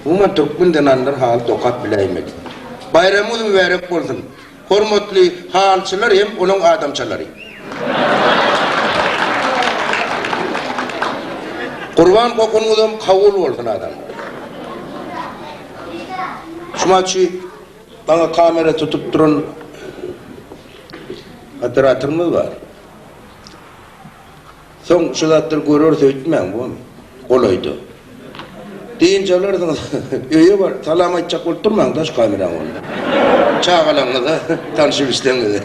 Umuman türkmen zenanlary haly dokap biläýmeli. Baýramyňyz mübärek bolsun! Hormatly halyçylar hem onuň adamçalary. Gurban gopunyňyzam kabul bolsun adamlar. Şumaçy. Maňa kamera tutup duran operatorymyz bar. Soň şu zatlary göreris öýtmäň bony. Golaýda. Dynç alarsyňyz. Öýe baryp salam aýtjak bolup durmaň daş kameraň bolanda. Çagalaryňyza, tanyş-bilişleriňize.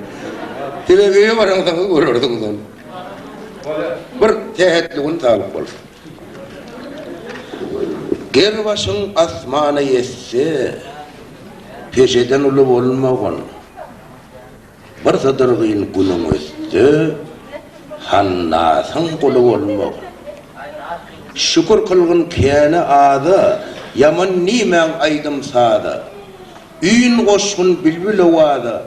Sebäbi öýe baraňsoňyz görersiňiz ony. Bir sähetli gün saglyk bolsun. Ger başyň asmana ýetse. Peşeden uly bolmagyn. Bir sydyrgyn günüň ötse, Hannasyň guly bolmagyn. Şükür kylgyn käni aza, Ýaman diýmäň aýdym-saza. Üýn goşgun bilbil owaza.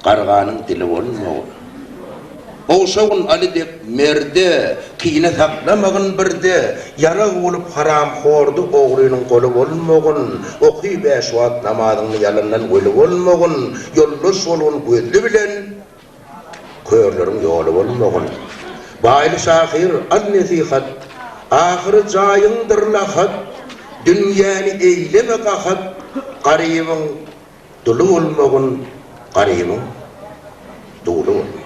Garganyň dili bolmagyn. Gowşagyn Aly dek merde, Kine saklamagyn birde, Ýarag bolup haramhordy ogrynyň goly bolmagyn. Oky bäş wagt namazyňny ýalandan weli bolmagyn, Ýoldaş bolgun gözli bilen, körleriň ýoly bolmagyn. Baýly şahyr Al nesihat, Ahyry jaýyňdyr lahat, Dünýäni eýleme gahat, Garybyň Dully bolmagyn garymyň duly bolmagyn.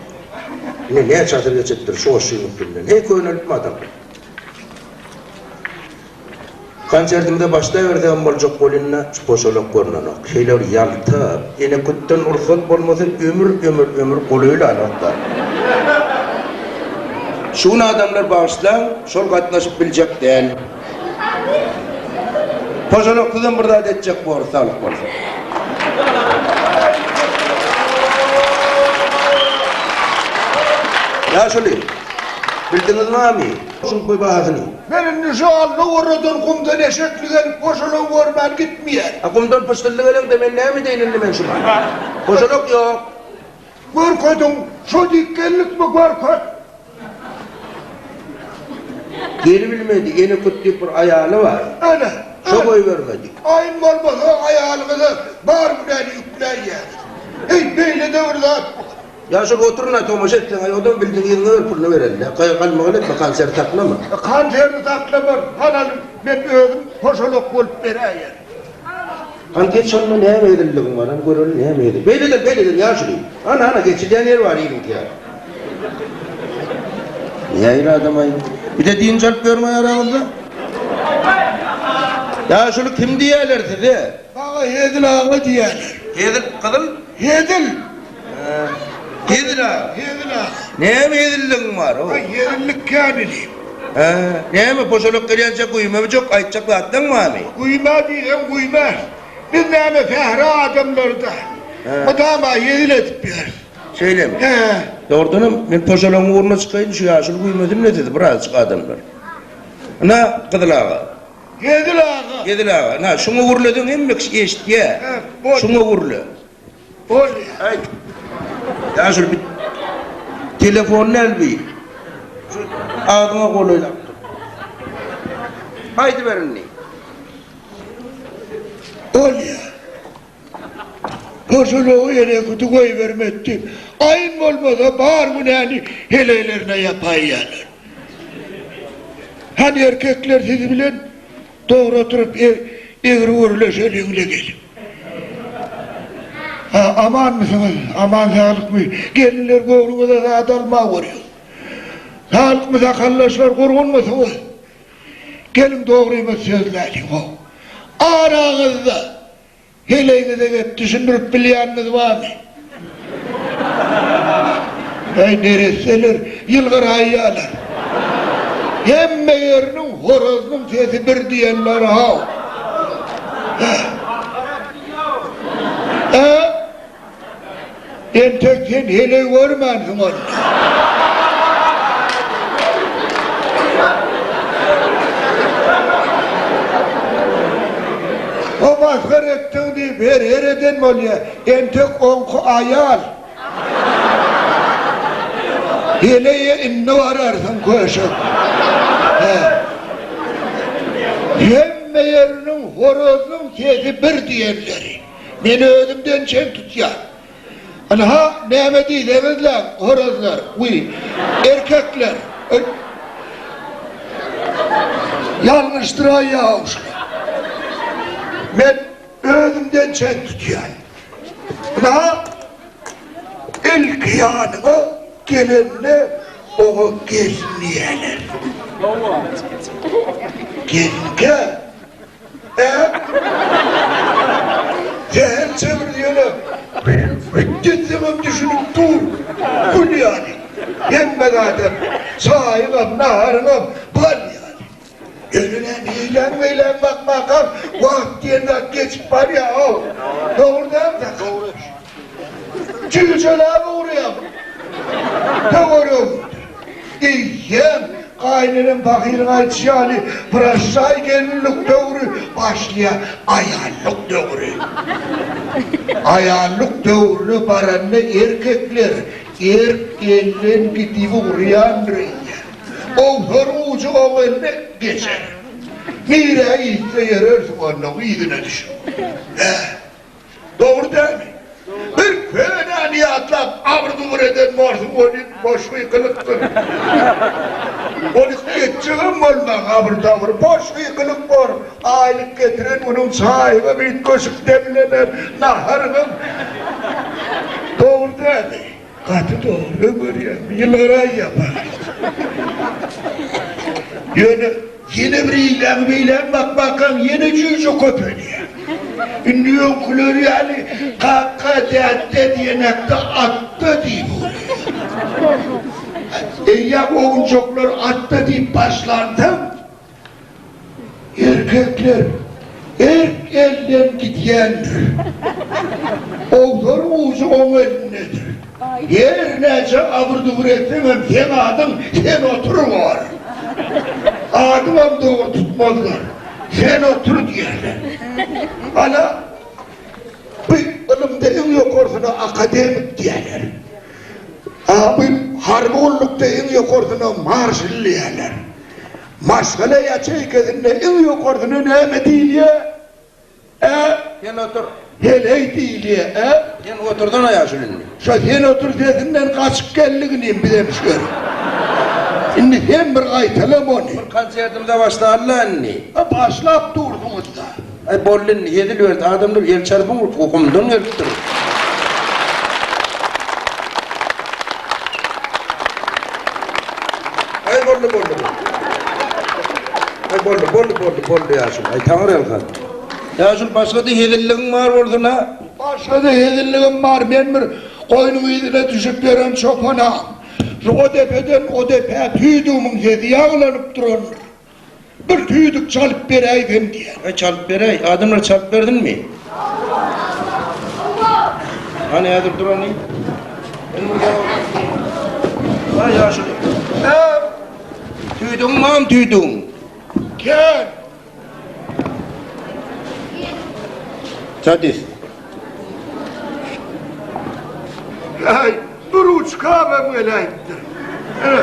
Ine näçe asyr geçipdir şu goşgyň üstünden. Heý könelipmi adam? Konsertimize başlaýbersegem boljak bolynda şu goşalak görnenok. Şeýle bir ýalta, ene kütden rugsat bolmasa ömür ömür ömür golaýlan wagtlar. Şu gün adamlar bagyşlaň şol gatnaşyp biljek däl. Hojalyk sizem bir zat etjek bor saglyk bolsa. Ýaşuly, bildiňiz barmy şuň toý bahasyny? Men indi şu Alla oradan gumdan eşekli gelip hojalygy görmän gitmeýän. A gumdan pyşdylly geleňde men näme edeýin indi men şuňa? Hojalyk ýok. Görkediň, şo diýip geldikmi, görket! Gelibilmedi, ene köp diýip bir aýaly bar. Ana, Şo goýbermedi. Aýym bolmasa, aýalyňyza bar günäni ýükläýýäňiz. Heý, beýle döwür zat bu. Ýa şol oturana tomaşa etseň-aý, onam bildiň yzyňa ber, puluny bereli-dä. Gaýgy alma gal etme, konsert saklama. Konsert saklaman, halalyň, men özüm hoşalak bolup beräýerin. Hany geç onda näme edildigiň baram görelim näme edil. Beýleden beýleden ýaşuly. Hany hany geçilýän ýer bar ýeriň ýa. Nähili adamaý. Bize dynç alyp bermaý araňyzda. Ýaşuly kim diýýäler size? Maňa Hezil aga diýýäler. Hezil gyzyl? Hezil. Hezil a, hezil a. Näme hezilligiň bar, ho? Aý, hezillik käni diýip. Hä, näme, poşalak gelýänçä güýmemi jok, aýtjak zatlaň barmy? Güýme diýseň güýme. Biz näme sähra adamlary-da. Mydama hezil edip ýörüs. Şeýlemi? Hä. Dogrudanam, men poşalagyň ugruna çykaýyn, şu ýaşuly güýmesin-le sizi birazajyk adamlar. Ynha, Gyzyl aga. Hezil aga. Hezil aga, ynha, şuňa gürleseň hemme kişi eşitýär. Hä, boldy. Şuňa gürle. Ol aýt. Ýa şul bir telefonyny al bir. Şu agzyňa golaýlap dur. Aýdyber indi. Bolýa. Goşulygy ýere gudy goýbermekdi. Aýn bolmasa bar günäni heleýlerine ýapaýýarlar. Hany erkekler siz bilen? Dogry oturyp egri örile şöleňle gelip. Ha amanmysyňyz aman saglykmy gelinler göwnüňize zat alma görýän saglykmy sakaldaşlar gurgunmysyňyz geliň dogrymy sözläliň ho araňyzda Heleýiňize gep düşündirip bilýäniňiz barmy? Äý neresseler, ýylgyraýýalar. Hemme ýeriniň horazynyň sesi bir diýen bar-haw. Hä? Hä? Entek sen heleý görmänsiň ony. O masgara etdiň diýip her-her eden bolýa. Entek oňky aýal. Heleýe indi bararsyň köşek. Hä. Hemme ýeriniň horozynyň sesi bir diýenleri. Men özümden çen tutýan. Ynha, näme diýseňiz-läň, horazlar, wiý, erkekler, öl. Ýalňyşdyraýýaw şular. Men özümden çen tutýan. Ynha, ilki ýanyňa gelende oňa gelin diýerler. Gelin-kä? Äp! Zäher çemridi ýöne. Büýük gitseňem düşünip dur. Gül ýaly. Hemme zadam. Çaýyňam, naharyňam bal ýaly. Ýöne näme eýläň-beýläň bakmakaň, wagt diýen zat geçip barýa-ow. Dogry dälmi, Sakar? Jüýjeläp ugraýar. Töwerek eýýäm gaýynenem pahyryň aýdyşy ýaly Braşşaý gelinlik döwri başlaýar. Aýallyk döwri. Aýallyk döwrüne baranda erkekler erk elden gidip ugraýandyr eýýäm. Owsar ujy oň eline geçer. Nirä gitse ýörersiň onnoň yzyna düşüp. Hä, Dogry dälmi? Bir könäni ýatlap, abyr-gubur eden bolsuň, ol it boş gykylypdyr. Ol it geçjegem bolman, abyr-tabr, boş gykylyk bor. Aýlyk getiren günüň çaýygam üýtgeşik demlener, naharyňam. Dogry dälmi? Gaty dogry görýän ýylgyraý ýapar. Ýöne ýene bir ýylaň beýläň bakmakaň ýene jüýje köpelýär. Indi öňküleri ýaly kaka dädde diýenekde atda diýip ugurýar. Eýýäm owunjaklar atda diýip başlansoň. Erkekler erk elden gidýändir. Owlar ujy oň elindedir. Her näçe abyr-dubur etseňem seň adyň sen otur bor. Adyňam dogry tutmazlar. Sen otur diýerler. Ana, bu ylymda iň ýokarsyna akademik diýerler. A bu harby gullukda iň ýokarsyna marşal diýerler. Maşgala ýaçeýkasynda iň ýokarsyna näme diýilýär? Ä? Sen otur. Heleý diýilýär. Ä? Sen otursana ýaşuly indi. Şo sen otur sesinden gaçyp geldik inim bizem şu ýere. Indi sen bir gaýtala muny. Bir konsertimize başlaly-la indi. Başlap dursuňyz-da. Aý boldy indi hezil berdi adamlar ýel çarpyň urupdyr gumdan gelipdir. Aý boldy boldy Aý boldy boldy boldy boldy ýaşul aý taňry ýalka. Ýaşul başgada hezilligiň bar bolsun a. Başgada hezilligim bar men bir goýnuň yzyna düşüp ýören çopan a. Şu o depeden o depä tüýdügimiň hezi ýagylynyp durandyr. Bir tüýdük çalyp beräýsem diýýän. Aý, çalyp beräý. Adamlara çalyp berdiňmi? Hany häzir durany? Aý, ýaşuly. Äm! Tüýdügiň barmy tüýdügiň? Kän. Sadist. Äý, bir uçka bäm geläýipdir. Ene.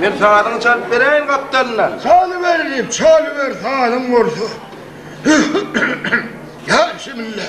Men sazyňy çalyp bereýin gapdalyndan. Çalyber diýip, çalyber sazyň bolsa. Ýa şimille.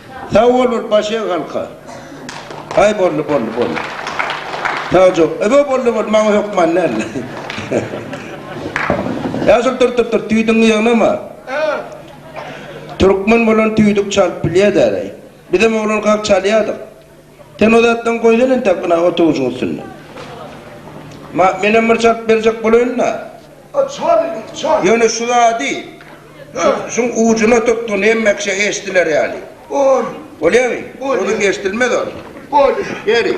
Sag bol bir baş eg halka. Aý boldy boldy boldy. Sagjok. Öbe boldy boldy maňa hökman däldi. Ýa şol dur dur dur tüýdüňi ýygnama. Türkmen bolan tüýdük çalyp bilýä däläý. Bizem oglankak çalýadyk. Sen o zatdan goýsana entek ynha otawujyň üstünde. Ma, menem bir çalyp berjek bolaýyn-da. A çal indi, çal. Ýöne şu zady, şu, şuň ujuna tutgyn, hemmekiçe eşdiler ýaly. Bol. Bolýamy? Bolýar. Ozüň eşdilmez ol. Bolýar. Beri.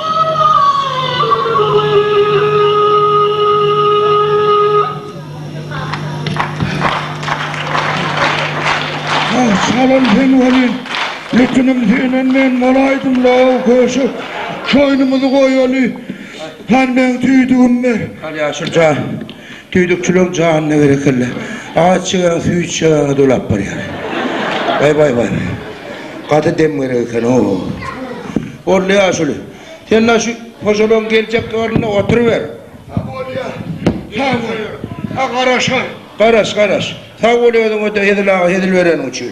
Salam sen welin, ýekinim senden men bolaýdym law köşek. Şoýnumyzy goýaly. Handan tüýdügim ber. Al ýaşulja. Düýdükçileň janyna berekella. Aç çegeň süýt içjegäňe dolap barýar. Baý baý baý baý. Gaty dem gerek eken oo. Boldy ýaşuly. Sen daş şu hojalygyň geljek ornunda oturyber. A bolýa. Sag bol. A garaşar. Garaş garaş. Sag bol özüňe de Hezil aga hezil bereniň üçin.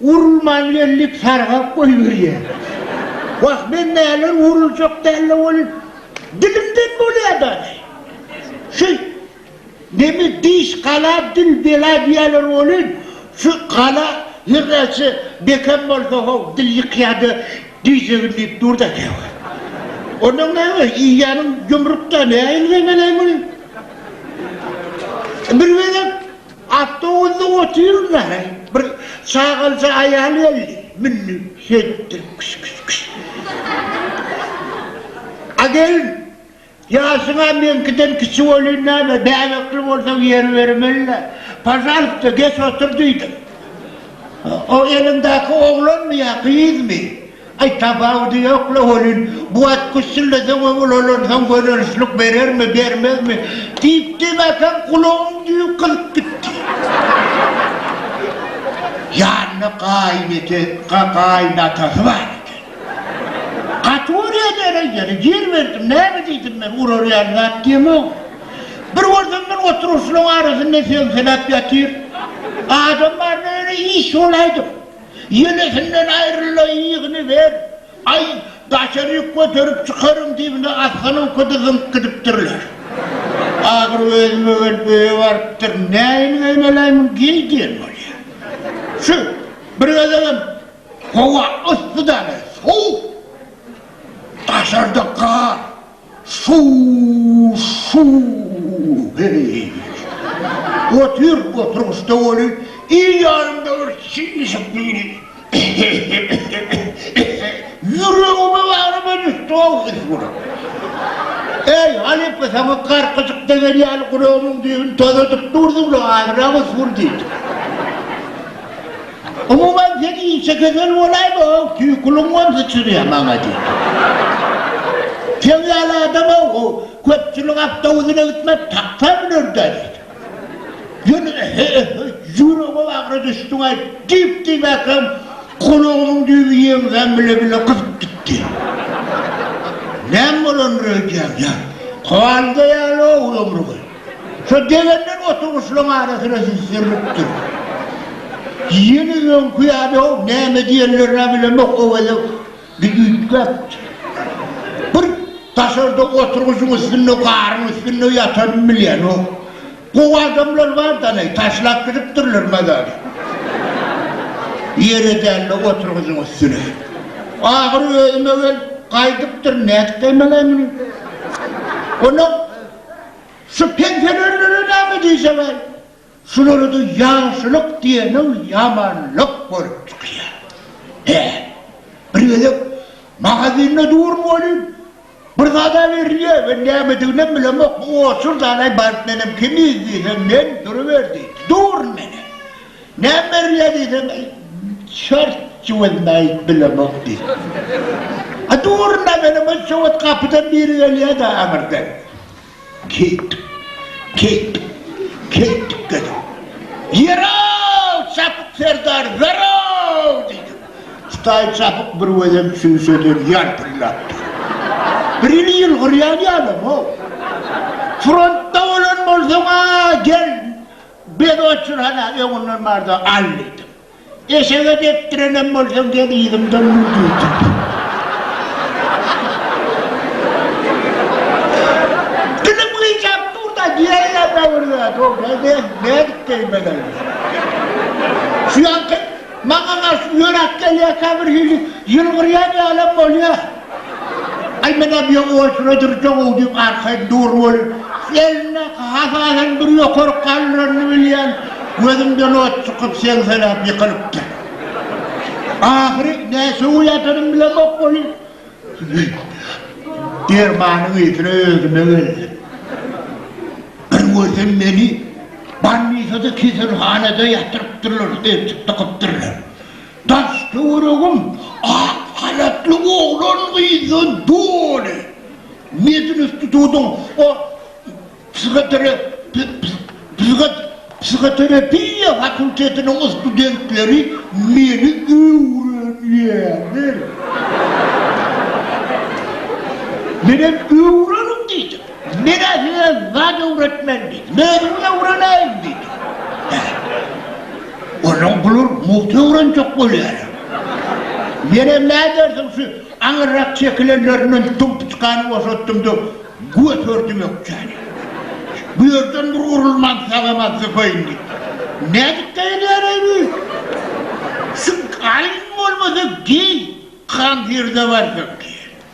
Urulman geldik sargap goýberýär. Wah men näler uruljak dälle ol dilimden bolýa dagy. Şu neme diş gala dil bela diýýäler welin şu gala her näçe bekem bolsa how dil ýykýada diýjegin diýip durda käwagt. Ondan näme iýýäniň ýumrukda nähili zemelem ol. Bir gezek. Awtobusda otyryn-da, heý, bir çagalja aýal geldi, mündi, şeýtdi, kş-kş-kş. A gelin, ýaşyň-a meňkiden kiçi welin näme, bäbekli bolsaň ýer bermeli-le. Pažalsta, geç otur diýdim. O eliňdäki oglanmy ýa gyzmy? Aý, tapawudy ýok-la welin, bu at güssüldeseň-ä ulalansoň gözelçilik berermi, bermezmi? diýip, demäkem gulagyň düýbi gyzyp gitdi. Ýanynda gaýynete, ga-gaýynatasy bar eken. Gaty urýan ene ýeri, ýer berdim, näme diýdim men, urarýan zat diýemok. Bir görsem men oturgyçlaryň arasynda seňseläp ýatyr. Adam barynda ýöne iş bolaýdyk. Ýenesinden aýryl-da, ýygyny ber! Aý, daşaryk göterip çykaryň diýibine asgynynky-da zyňyp gidipdirler. Ahyry özüme gelip öýe barypdyr. Näin geýmeläýmem, geý diýen bolýar. Şu bir gezegem howa yssy däl-ä, sowuk. Daşarda gar. Su-su-heý! Otur, oturgyçda welin, il ýanymda bir çişip biýri. Ýüregime baryp ödüşdi-ow ys bular. Äý, halypa, saňa garkyjyk degen ýaly gulagymyň düýbüni tozadyp durduň-la, azyrak ys bur diýdi. Umuman sen işe gözel bolaýma how tüýküliň bolsa çyzýa maňa diýip. Seň ýaly adam how how köpçülik awtobusine gitmez taksa münerda diýip. Ýöne he he ýüregim agra düşdüň aý diýip diýmäkem gulagymyň düýbi ýeňsäm bile bile gyzyp gitdi. Näme bolandyr öýdýän ýa kowalga ýaly how ömrüňi. Şo degenler oturgyçlaryň arasyna süzülipdir. Ýene öňki ýaly-ow, näme diýenlerini-ä bilemok, o gezek biz üýtgäpdik. Bir daşarda oturgyçyň üstünde, garyň üstünde ýatanymy bilýänok. Gowy adamlar bar-da-leý, taşlap gidipdirler mazary. Ýere däl-de, oturgyçyň üstüne. Ahyry özüme gelip, gaýdypdyryn, nädip geýmeläýmini. Onda. Şu pensionärlere näme diýseňaý, şulara-da ýagşylyk diýeniň ýamanlyk bolup çykýar. Hä, bir gezek magazinde durum welin, bir zada berilýär we nämediginem bilemok, bu otur-dalaý baryp menem kimiz diýsem, men duruber diýdi. Durun menem. Näme berilýär diýseň, çort jüwezini aýdyp bilemok diýdi. A durna meni bu jüwez gapydan biri gelýär-de aňyrdan. Keýtdik. Keýtdik. Keýtdik dedim. Ýer-ow, Çapyk serdar, zorow! diýdim. Hudaý Çapyk bir gözem çüýşeden ýalpyldapdyr. Birhili ýylgyrýan ýalam-ow. Frontda bolan bolsaň-a, gel, Biz otur hala öňünden barda al diýdim. Eşege depdirenem bolsaň gel yzymdan mün diýdim. Dilim gyjap dur-da diýäýýärem birde Dogry ben nädip gelmelin. Şu ýaňky maňa garşy ýöräp gelýärkä birhili ýylgyrýan ýalym bolýar. Aý menä bu ýa olsuna durjagow diýip arkaýyn dur weli, elindäki hasadan bir ýokary galdyranyny bilýän, gözümden ot çykyp seňseläp ýykylypdyr. Ahyry näçe gowy ýatanym bilemok weli, dermanyň ysyna özüme geldim. Bir görsem meni bannisada keselhanada ýatyrypdyrlar, eltik dykypdyrlar. Daş-töweregim ak halatly oglan-gyzdan doly. Medinstitutyň o psihoterapiýa fakultetiniň studentleri meni öwrenýärler. Menem öwreniň diýdim. Men-ä size zat öwretmen diýdim. Özümiz öwreneýin diýdim. Hä. Onuň bular mugty öwrenjek bolýarlar. Menem nädersiň şu aňyrrak çekilenlerinden dumpuçkany boşatdym-da, göterdim ökjäni. Bu ýerden bir urulman sagama zypaýyn diýip. Nädip geýilýär-eý bu? Şu alyň bolmasa geý, konserta barsak diýen.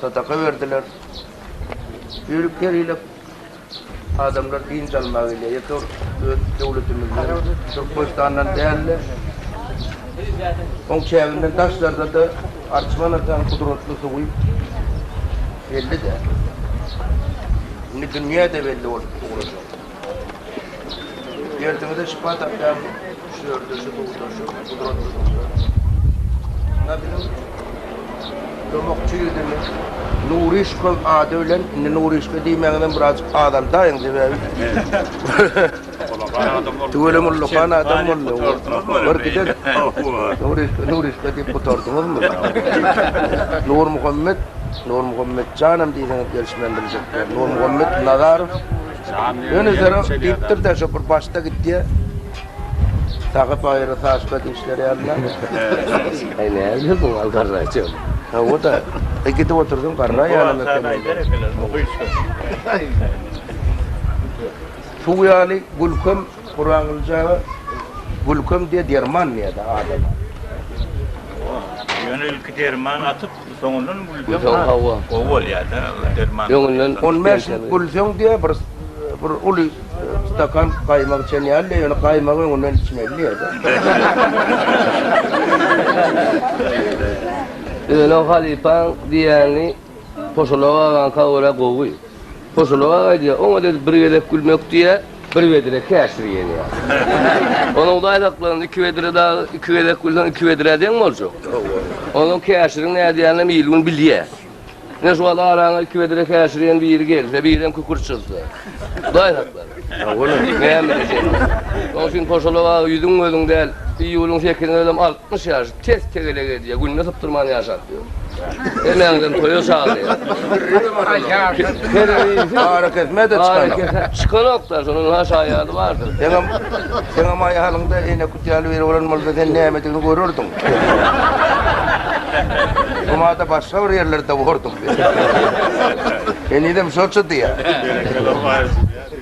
sadaka berdiler. Ýörüp gerilip adamlar dynç almaga gelýär. Ýeke öz döwletimizden, Türkmenistandan däl-de, oň çäginden daşlarda-da Arçman atanyň gudratly suwy belli-de. Indi dünýä-de belli bolup ugradyr. Derdiňize şypa tapýan küşlerde şu duşuşyk gudratly duşar. Şunda biziň kömekçi ýüzümiz Nuryşkow ady bilen, indi Nuryşka diýmäňizem birazjyk azaldaýyň sebäbi Tüweleme ullakan adam boldy. Bir gider. Nuryşka, Nuryşka diýip gutardyňyzmy? Nurmuhammet, Nurmuhammet janam diýseňiz gelişmän biljek. Nurmuhammet Nazarow Ýöne zero diýipdir-de şo bir başda gitýä. Sagy baýry saçda dişleri ýalyna. Aý näzir bu gal garraý çöl. Hawa-da. E gidip otursaň garraý ýalam eken indi. Suw ýaly gülkem Gurangyljaga gülkem diýe derman diýýä-de adama. Ýöne ilki derman atyp Soňundan gülseň hawa gowy bolýada derman. Öňünden on bäş ýyl gülseň diýä bir bir uly stakan gaýmak içen ýaly ýöne gaýmagy öňünden içmeli diýädä. Öne halypaň diýýäni poşalaga agaňka görä gowy. Hoşologak aýdýar, oňa dedi bir gezek gülmek diýýä, bir bedre käşir gelýär. Onuň daýzaklaryny iki bedre dagy iki gezek gülseň iki bedrä deň boljak. Onuň käşiriň nädýäninem il-gün bilýär. Ine şu wagt araňa iki bedre käşir iýen biri gelse, birem kükürt çyzsa. Daýzaklar. Näme diýjekler. Şoň üçin Hoşologak ýüzüň-gözüň däl, iýulyň sekizine özem altmyş ýaş. Tez tegelek edýär, günde sypdyrman ýaşap ýör. Hemäňden toýa çagyrýar. Arakesme-de çykanok. Çykanok-da, şonuň has şaýady bardyr. Seňem, seňem aýalyňda Eýnekut ýaly biri bolan bolsa, sen nämedigini görerdiň. Şumada başga bir ýerlerde bordyň sen. Henizem şoça diýýär.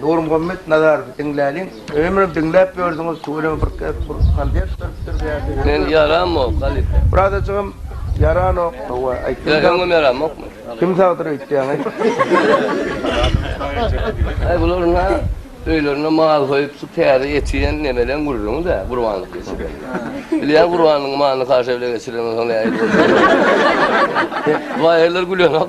Nurmuhammet Nazarowy diňläliň. Ömrüm diňläp ýördüňiz tüweleme bir gezek bir konsert beripdir bu ýerde. Men ýaramok halypa. Birazajygam ýaranok hawa aý kim sag. Öňem ýaramokmy. Kim sagdyr öýtýäň aý. Aý bular nä öýlerinde mal soýup şu täze eti iýen nemeleň gürrüňidä gurbanlyk geçirýän. Bilýän gurbanyň malyny kaşa bile geçirenden soň nähili bolýan. Baýyrlar gülenok.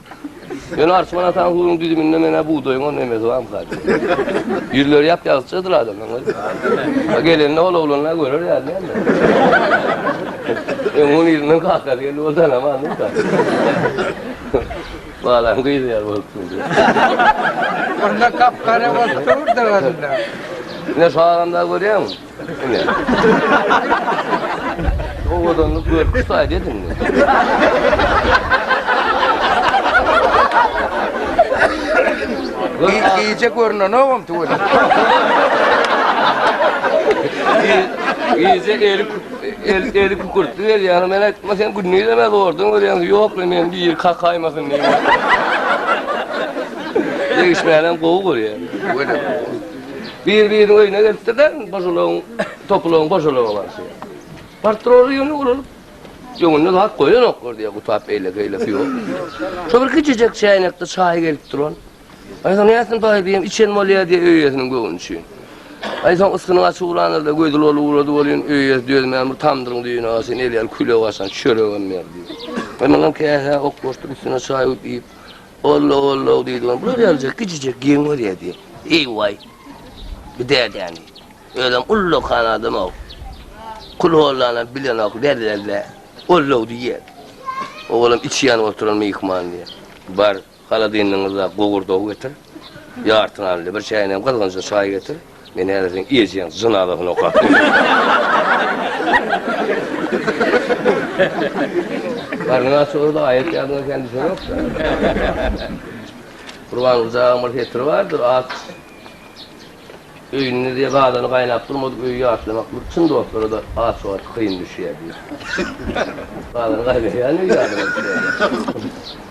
Ýöne Arçman ataň suwuň düzüminde menä bugdaýyň o nemesi bamyka diýip. Ýüzleri ýap-ýagtysjadyr adamlaň özi. A gelende ol oglanlar görer ýaly däldi. Öň ony ýerinden kakasy geldi ol tanamady da. Balaň gyzy ýaly bolup durdy. Onda gap-gara bolup durdy onda. Ine şu adamlary görýäňmi? Ine. Owadanlyk görki saýd ediňmi? Gi- Gije görnenogam tüweli. Gije eli el eli kükürtli gelýär. Men aýtma sen günni de näme ordan görýäň? Ýok, men bir kakaýmasyn diýip. Degişmänem gowy görýär. Tüweli. Bir-biriniň öýüne gelipdirler, gojalaryň, topularyň gojalaryna barşy. Baryp durarlar ýöne olar öňünde zat goýanoklar diýýär gutap beýleki-eýleki ýok. Şo bir kiçijek çäýnekde çaý gelip duran. Aýsa näsin baý diýen, içen bolýar diýýär öýesiniň göwni üçin. Aýsa ysgynyň açylanlarda gözi lol ugrady bolýan öýesi dözmän bir tamdyryň düýbüne gaçan elýär küle gaçan çöregem ber diýýär. Ynanam käsä ok boşdyr üstüne çaý guýup iýip, Ollo, ollo diýdiňem, bular ýalyjak gijijek geň bolýar diýip. Eý-waý! Bu dädäni. Özem ullakan adam-ow. Kulhollanam bilenok, lä-lä-lä. Ollo diýýär. Owalam içi ýanyp oturan myhman diýýär. Bar, haladinligiňizde gowurdagy getir. Ýarty nanly, bir çäýnejem gyzgynja çaý getir. Men häzir seň ejeň jynazasyny okap Garnyň aç bolsa aýat ýadyňa kän düşenokda. Gurbanguljagaň bir setiri bardyr, At öýünde diýe gazany gaýnap durmadyk öýi ýatlamak bir çyn dostlara-da aç wagty kyn düşýär diýip. Gazany gaýnaýan öýi ýadyňa düşýär.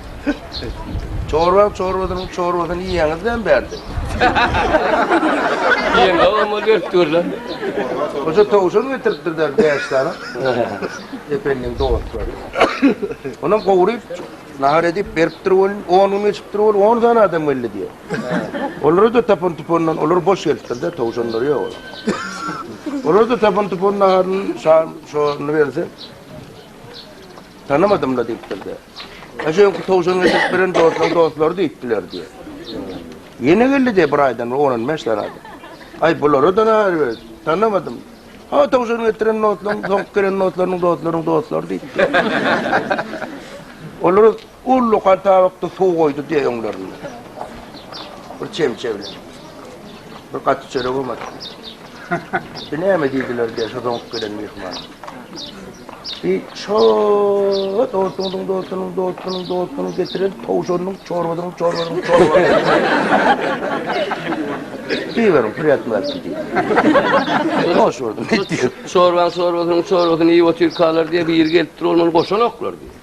Çorbaň çorbasynyň çorbasyny iýýäňiz näme bärde? Diýen gabam ol berip dur lan. Goja towşan getiripdir der bäş sany. Ependiň dostlary. Onam gowryp nahar edip beripdir welin on gün geçipdir ol on sany adam geldi diýer. Olara-da tapan tupandan olar boş gelipdir-de towşanlary ýok olar. Olar-da tapan tupan naharyny şa şony berse Tanamadym-la diýipdir-de. Aşa öňki towşan getirip beren dostuň dostlary diýipdiler diýýär. Ýene geldi-de bir aýdan bir on-on bäş däne adam. Aý, bulara-da nähili beýt? Tanamadym. Ha, towşan getiren dostlaryň, soňky gelen dostlarynyň dostlarynyň dostlary diýipdir. Olar ullakan tabakda suw goýdy diýýär öňlerinde. Bir çemçe bilen. Bir gaty çöregem atdy. Bi näme diýdiler diýýär şo doňup gelen myhmana. Bi şo dostunyň dostunyň dostunyň dostunyň getiren towşanyň çorbasynyň çorbasynyň çorbasy. Diýiberin pürýatmaz diýdi. Hoş gördüm. Çorbaň çorbasynyň çorbasyny iýip otyrkalar diýip biri gelipdir ol muny goşanoklar diýdi.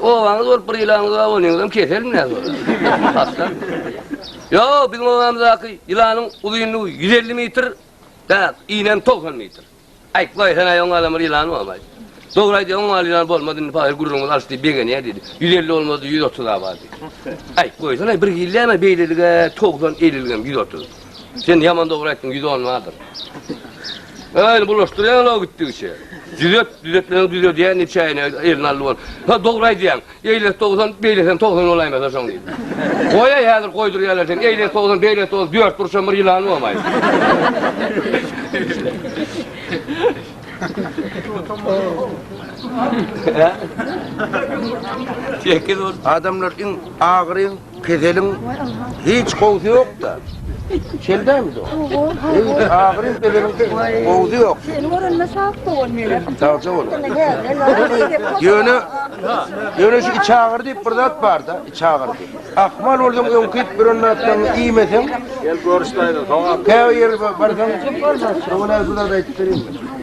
Obaňyz bolup bir ýylaňyz bar bolýaňyzam keselmi näme ol? Hassamy? Ýok, biziň obamyzdaky ýylanyň uzynlygy ýüz elli metr, däp, inem togsan metr. Aýt, goý, sen aýagyň galan bir ýylan bormy, aýt? Dogry aýdýaň, oňa ýylan bolmaz, indi pahyr gürrüňiňiz alys diýip begenýär diýdi. Ýüz elli bolmaz-da, ýüz otuz-a bar diýdi. Aýt, goýsana, bir hillem-ä beýlelik-ä, togsan, elliligem, ýüz otuz. Sen ýaman dogry aýtdyň, ýüz on bardyr. Äýni bulaşdyrýaň o gitdigiçe. Düzet, düzetmeleňi düzedýän diýip çäýine elini aldy bol. Ha dogry aýdýaň. Eýlesi dogsan, beýlesem togsan bolaýmasa şoň diýip. Goýaý häzir goýdurýarlar seni. Eýlesi dogsan, beýlesi dogsan, dört burçam bir ýylany bomaý. Adamlar iň agyry Keseliň hiç gowusy ýokda. Şeldämi do? Hiç agyryň keseliň gowusy ýok. Seni görende sag bol mele. Sagja bol. Ýöne ýöne şu iç agyry diýip bir zat barda, iç agyry diýip. Ahmal bolsaň öňküp bir zatlaryny iýmeseň. Gel görüşläýiň. Käbir ýere barsaň, şowly bir zat aýdyp bereýin.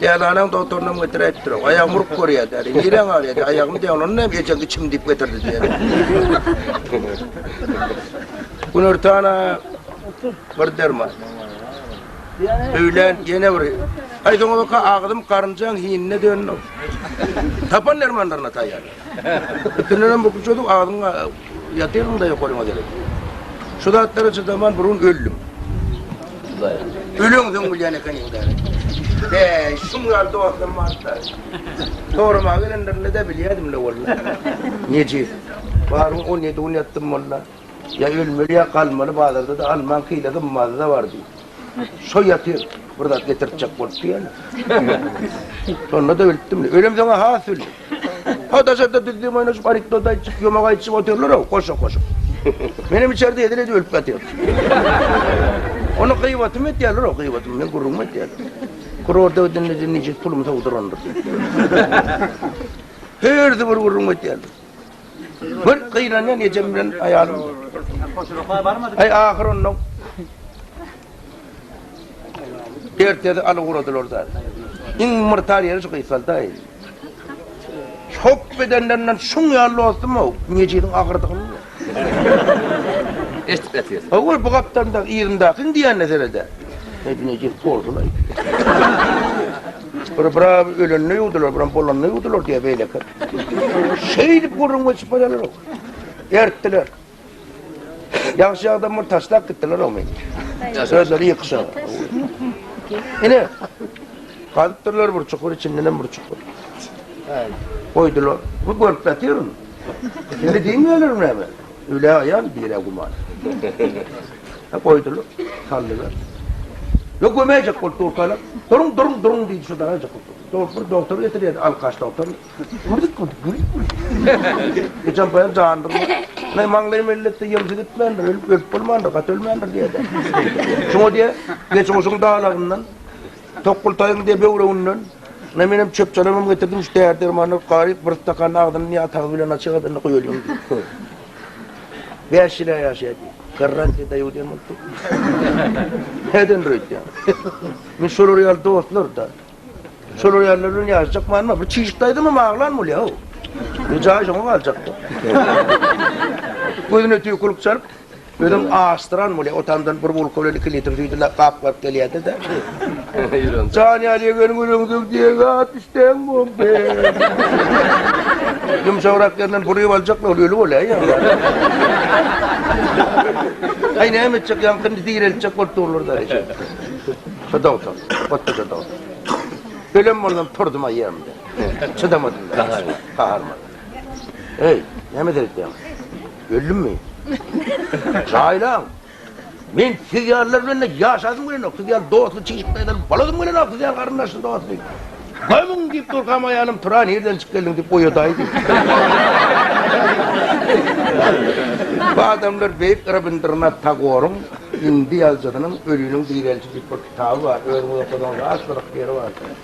Dälanaň dogtorynam getiräýipdir ow. Aýagym urup görýär däli. Niräň agyrýar diýýär. Aýagym diýýär. Ondan hem ejeň içim diýip getirdi diýýär. Günortana bir derman. Öýlän ýene bir. Aý soňabaka agzym garynjaň hinine döndi. Tapan dermanlaryna taýýar. Ikilerem bu küçejik agzyňa ýatyryň-da ýokaryňa derek. Şu zatlara çydaman burun öldüm. Öleňsoň bilýän ekeniň däl-ä. Bäý, şuň ýaly dostam barka. Soramaga gelenlerinde-de bilýädim-le walla. Nejis. Baryň on ýedi gün ýatdym walla. Ýa ölmeli ýa galmaly bazardada almaň hile gymmatyda bar diý. Şo ýatyr bir zat getirtjek bolup diýýäni. Şonda da bilipdim. Ölem soňa has bildim. Ho daşarda düzdim oýnaşyp anekdot aýtjyk ýomak aýtjyk otyrlarow goşa goşup. Menem içerde hezil edip ölüp ýatyryn. Ony gybatymy etýärlerow gybatymy meň gürrüňimi etýärler. Kurorda gidende diýdi nice pulum sowdurandyr diýip. Hersi bir gürrüňimi etýärler. Bir gyýlanýan ejem bilen aýalym. Hoşuroklar barmady. Aý ahyr ondan Ertesi aly guradylar da. Iň myrtar ýeri şu gyýsalda. Hop bedenlerinden şuň ýaly dostum o. Mejiliň agyrdygyny. Eşitip ýatyr. Owul bu gapdalda ýerindäki diýende serede. Mejil bolsun aý. Bir biraby ölende ýuwdular, biram bolanda ýuwdular diýýär beýlekiler. Şeýdip gürrüň geçip barýarlar. Ertdiler. Ýagşy adam bir taşlap gitdiler o men. Özleri ýykyşa. Ine. Gazypdyrlar bir çukur içinden hem bir çukur. Goýdular. Bu görüp ýatyryn. Indi diýmeýärler näme? Ölä aýal birä guman. He goýdular. Saldylar. Ýok gömäýjek bolup durkalar. Duruň duruň duruň diýdi şu daraýjak bolup durdy. Dogrup bir dogtor getirýärdi alkaş dogtor. Gürdik gürdik gürdik gürdik. Geçen paýam jandyr. Näme maňlaýym elletde ýemsi gitmändir. Ölüp ölüp bolmandyr. Gaty ölmändir diýerdi. Şoňa diýe geçen oşuň dalagyndan Tokgultaýyň diýe böwreginden, Ine, menem çöp-çalamam getirdim, şu däri-dermanlar gaýyk, bir stakan agzyny diýe atagyz bilen aç, ýagadanda guýalyň diýdi. Bäş ýyl-ä ýaşaýa diýdi. Garran diýe daýaw diýen bolupdyr. Nädendir öýtýäň? Men şolar ýaly dostlar-da. Şolar ýalylar bilen ýaşajakmanma, bir çişikde aýdamam aglan bolýa-ow. Jaý şoňa galjak-da. Gözüne tüýkülik çalyp, Özem aşdyran bolýa, o tamdan bir bulka bilen iki litr süýdi lak gaplap gelýärdi-de. Jan ýaly gelin göreňsoň diýegi at üsteň boldy. Ýumşagrak ýerinden buryp aljakla ol öli bolýa ýa. Aý näme etjek ýaňky indi direltjek bolup durlar-da eje. Şodog tor. Otda şodog. Ölem bolsam turdum aýamda. Çydamadym. Gaharman. Eý, näme seretýäň? Öldümmi? Jaýlaň! Men siz ýalylar bilen-de ýaşasym gelenok, siz ýaly dostly çigit peýdaly bolasym gelenok, siz ýaly garyndaşly dostly. Gömüň diýip durkam aýalym Tura nirden çykyp geldiň diýip oýadaý diýdi. Bu adamlar beýik Rabindranath Tagoryň Hindi ýazyjysynyň Öliniň direlişi diýip bir kitaby bar. Özüňiz okasaňyz az gyzykly ýeri bar.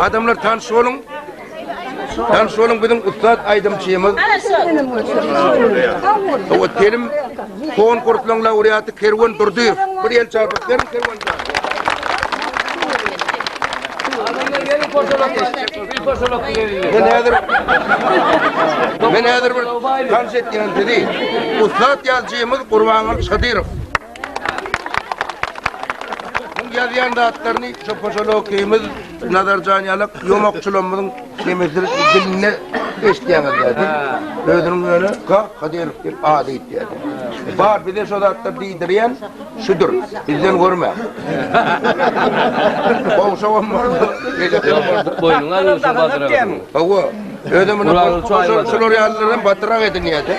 Adamlar tanş boluň. Tanş boluň biziň ussat aýdymçymyz. Bu telim konkursyň laureaty Kerwen Durdyýew. Bir el çarpyp beriň Kerwen. Adamlar gelin portalap. Bil başalap bileýin. Men häzir Men häzir bir tanş etýän sizi. Ussat ýazyjymyz Gurbanguly Şadyrow. Muň ýazýan zatlaryny şu poşalokymyz Nazarjan ýalak ýomakçylarymyzyň nemesdir dilinde eşitýäňiz dädi. Özüniň öne Ka Kadyrow diýip ady ýetýär. Bar bize şu zatlar diýdirýän Şudur, bizden görme. Gowşagam boldy, beýlekigem boldy. Boýnuňa alyň şu batyragy. Hawa, özem muny Gulagyny çuwaýyp şol- alma. şolar ýalylaram batyrak edinýär-de.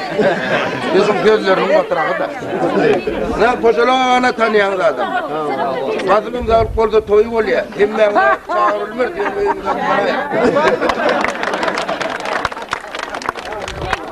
Ýüzüň gözleriniň batyragy-da. Nä, poşalana tanýaňyz adam. Gazymyň galyp bolsa toýy bolýar. Hemmäň çagyrylmaz, diýen öýümiz hem garaýar.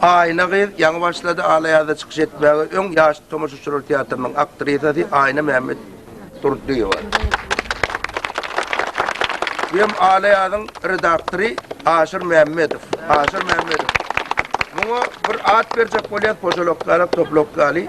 Aýna gyz ýaňy başlady, Al-Aýazda çykyş etmäge öň ýaşly tomaşaçylar teatrynyň aktrisasy Aýna Mämmedurdyýewa. Bu hem Al-Aýazyň redaktory Aşyr Mämmedow. Aşyr Mämmedow. Muňa bir at berjek bolýas, požalok ýaly, toplok ýaly.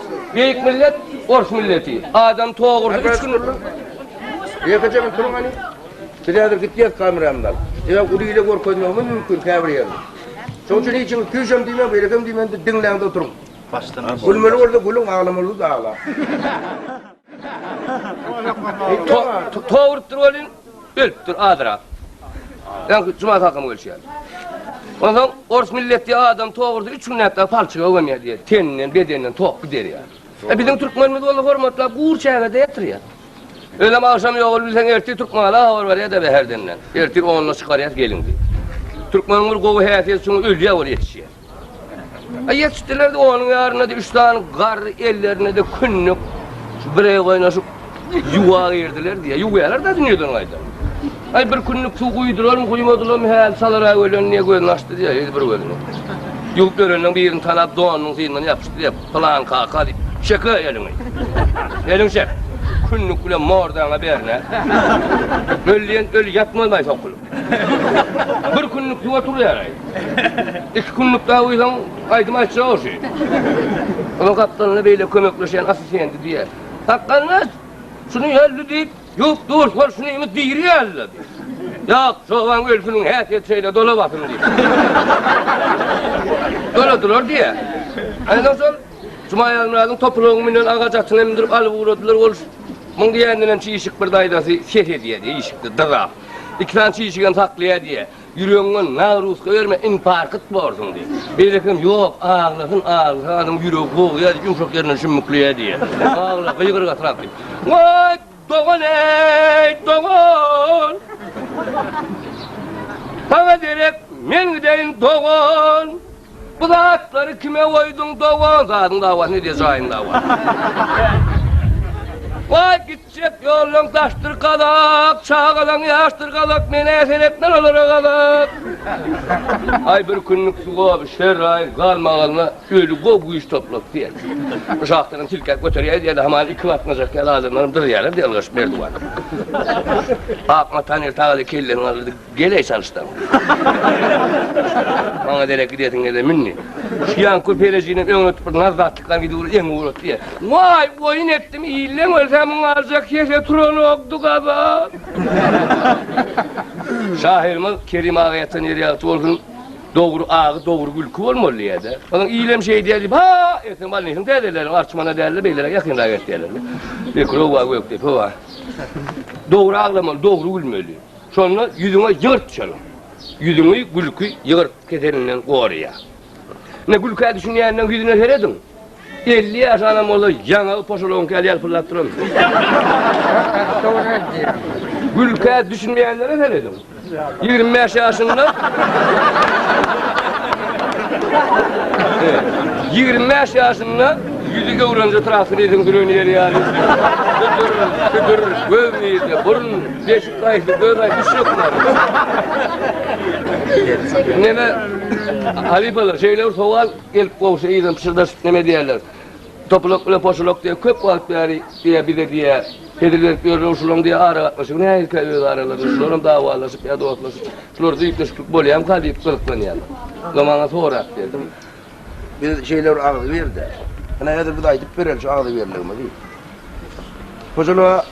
Beýik millet ors milleti. Adam togurdy üç gün. Ýeke jigim turuň hany. Biz häzir gitýäs kameramyzy alyp. Sebäbi uly ile görkezmegimiz mümkin käbir ýerini. Şoň üçin hiç kimiň tüýşem diýmäň, beýlekem diýmäň, diňläňde oturyň. Başdan. Gülmeli bolsa gülüň, aglamaly bolsa aglaň. Tow urupdyr welin, ölüpdir azyrak. Ýa juma sakam gelşýär. Ondan ors milletli adam tow urdy, üç gün nätdi, palçyga öwemýär diýär. Teninden, bedeninden tok gider ýa. E biziň türkmenimiz bolsa hormatla gur çägede ýatyrýa. Özem agşam ýogul bilseň ertir türkmana habar berýär de bäherdenden. Ertir onda çykarýas gelin diýip. Türkmeniň bir gowy häsiýeti şuň ölýär ol ýetişýär. Ýetişdiler-de, onuň ýarynda-da üç sany garry, ellerinde-de künnük, bireýe goýnaşyp, ýuwa girdiler diýýär. Ýuwýarlar-da dünýeden gaýtam. Aý, bir künnük suw guýdularmy, guýmadylarmy, häli salyra gelen diýýär, gözüni açdy diýýär, ýedi bir gözüni. Ýuwup bereninden birini tanap, donunyň synyndan ýapyşdy diýýär, Pylan kaka diýip, çeke eliňi. Eliňi çek. Künnük bilen mordaňa berne. Ölýän öli ýatmaz maý sokulyp. Bir günlük suw oturýar. Iki günlük daha uýsan aýdym aýtjak oşy. Onuň gapdalyna beýle kömekleşýän asysendi diýýär. Sakgaldaş, şuny ýölle diýip, ýuwup dur, hol şuny indi diri ýölle. Ýok, çoban ölsüniň häsiýeti şeýle dolabasyn diýip. Doladylar diýýär. Ondan soň Jumaýazmyradyň topalagyň münen agaç atyna mindirip alyp ugradylar. Ol muň diýeninden hem çişik bir daýzasy ses edýärdi, işikde dyzap. Iki sany çişigem saklaýa diýýä. Ýüregiňden nagruzka berme, infarkt borsuň diýip. Beýlekisem, Ýok, aglasyn, aglasa adam ýüregi bogýa diýip, ýumşak ýerinden şümmükleýä diýýä. Agla, gygyrygasyrak diýip. Waý, dogan-eý, dogan! Saňa derek men gideýin, dogan! Bu zatlary kime goýduň, dogan? Zadyň dawasyny edýä, jaýyň dawasyny. Waý, git, Çep ýoldan daşdyr gazak, çagalaň ýaşdyr gazak, men-ä seretmen olara gazak. Aý bir künlük sugaby şerraýyň galmagalyna öli goh güýç toplap diýen. Bu şahtadan silkäp göterýäýiz ýa-da hamala iki batmajak ýaly adamlaram dyrýarlar diýen ylgaşyp Merdiwan. Ak mata nirtagaly kelleni galdyrdy. Geleý çalyşdaň. Maňa derek gidesiň geldi münni. Şu ýan köperejini öňe tutup bir nazzatlykdan gidip ur eňi urat diýe. Waý, oýun etdim, illeň ölse muň aljak hese turanokdy gaba. Şahyrymyz Kerim aga ýatan ýeri ýagty bolsun. Dogry agy, dogry gülki bolmaly diýýärdi. Onuň ilem şeý diýýär diýip, ha, erteň bolnisin täzeleriň arçmana dälde beýlere ýakynrak et diýerler. Bekrowa gökdepe wa. Dogry aglamaly, dogry gülmeli. Şonda ýüzüňe ýygyrt düşerin. Ýüzüňi gülki ýygyrt keselinden goraýar. Ine, gülkä düşünýänleriň ýüzüne serediň. Elli ýaşy adam bolsa, ýaňagy poşoloňky ýaly ýalpyldap duran. Gülkä düşünmeýänlere serediň. Ýigrimi bäş ýaşynda Ýigrimi bäş ýaşynda ýüzi göwrence traktor eýsem süren ýeri ýaly. Südür, südür, göz nirde, burun, beş Gaýsy göz aý düşüp ýoklar. Neme halifalar şeýle bir sowal gelip gowşy ýygylyp pyşyrdaşyp neme diýerler. Topulok bilen poşulok diýip köp wagt bäri diýe bize diýe hezil berip ýörler şulaň diýe ara gatnaşygy nähilkä öz aralarynda şular hem dawalaşyp ýa dostlaşyp şular düýpleşiklik bolýamyka diýip gyzyklanýarlar. Ýa maňa sorap berdim. Biz şeýle bir agzybirde. Ine hezir biz aýdyp bereli şu agzybirligimizi. Poşuloga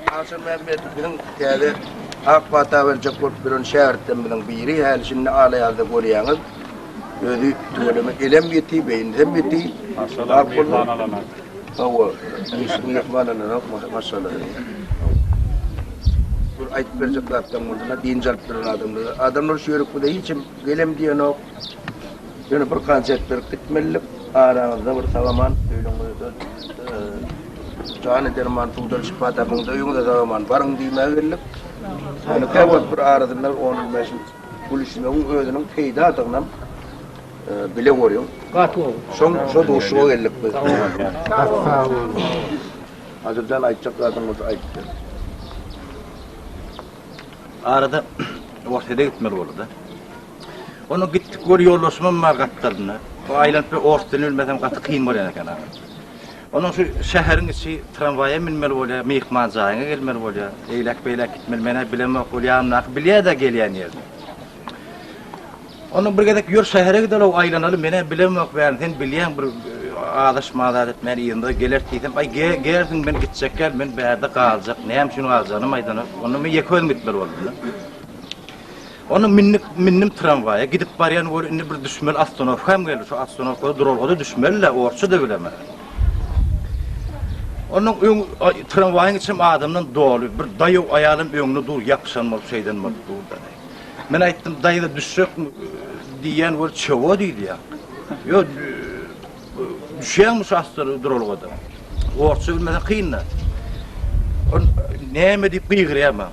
Agşam Mämmedow biziň täze ak pata berjek bolup duran şägirtlerimiziň biri. Häli şindi ala-ýazda görýäňiz. Özi tüweleme elem ýiti, beýnisem ýiti. Maşşalah, myhman alanok. Hawa, hiç kim myhman alanok, maşşalah diýýär. Bir aýdyp berjek zatlaryň bolsa-da, dynç alyp duran adamlar. Adamlar şu ýörükde hiç kim gelem diýenok. Ýöne bir gança etdirip gitmelidik. Araňyzda bir sag-aman öýlüňize dönüň. Jany derman, suwdan şypa tapyň, öýüňize sag-aman baryň diýmäge geldik. Ýöne käbir wagt bir arasynda bir on-on bäş ýyl gülüşmegiň özüniň peýdadygynam bile görýän. Gaty gowy. Şoň şo duşuşyga geldik biz. Gaty sag bol. Adyr jan aýtjak zadyň bolsa aýt de. Arada Orsýete gitmeli boldy-da. Onda gitdik bir ýoldaşymam bar gapdalynda. O aýlanyp bir ors dilini bilmesem gaty kyn bolýan eken aga. Onuň şu şäheriň içi tramwaýa münmeli bolýar, myhman jaýyňa gelmeli bolýar. Eýläk beýläk gitmeli. Men-ä bilemok, ol ýanymdaky bilýär-de gelýän ýerini. Onda bir gezek ýör şähere gideli-ow aýlanaly, men-ä bilemok bärini. Sen bilýäň bir azaş-mazaş etmän yzymyza geleris diýsem, aý gersiň men gitjek däl, men bärde galjak. Näme üçin galjagyny-am aýdanok. Onda men ýeke özüm gitmeli boldum-da. Onda mindik, mindim tramwaýa, gidip barýan bol, indi bir düşmeli ostanowkam geldi, şu ostanowkada duralgada düşmeli-le, orsça-da bilemen. Onuň öň tramwaýyň içim adamdan doly, bir daýaw aýalam öňde dur, ýapyşan bolup, şeýden bolup durdy. Men aýtdym, daýza düşjekmi diýýän bol, çebo diýýär. Ýo, düşýäňmi şu ostanow duralgada? Orsça bilmeseň kyn-da. Ol näme diýip gygyrýar maňa.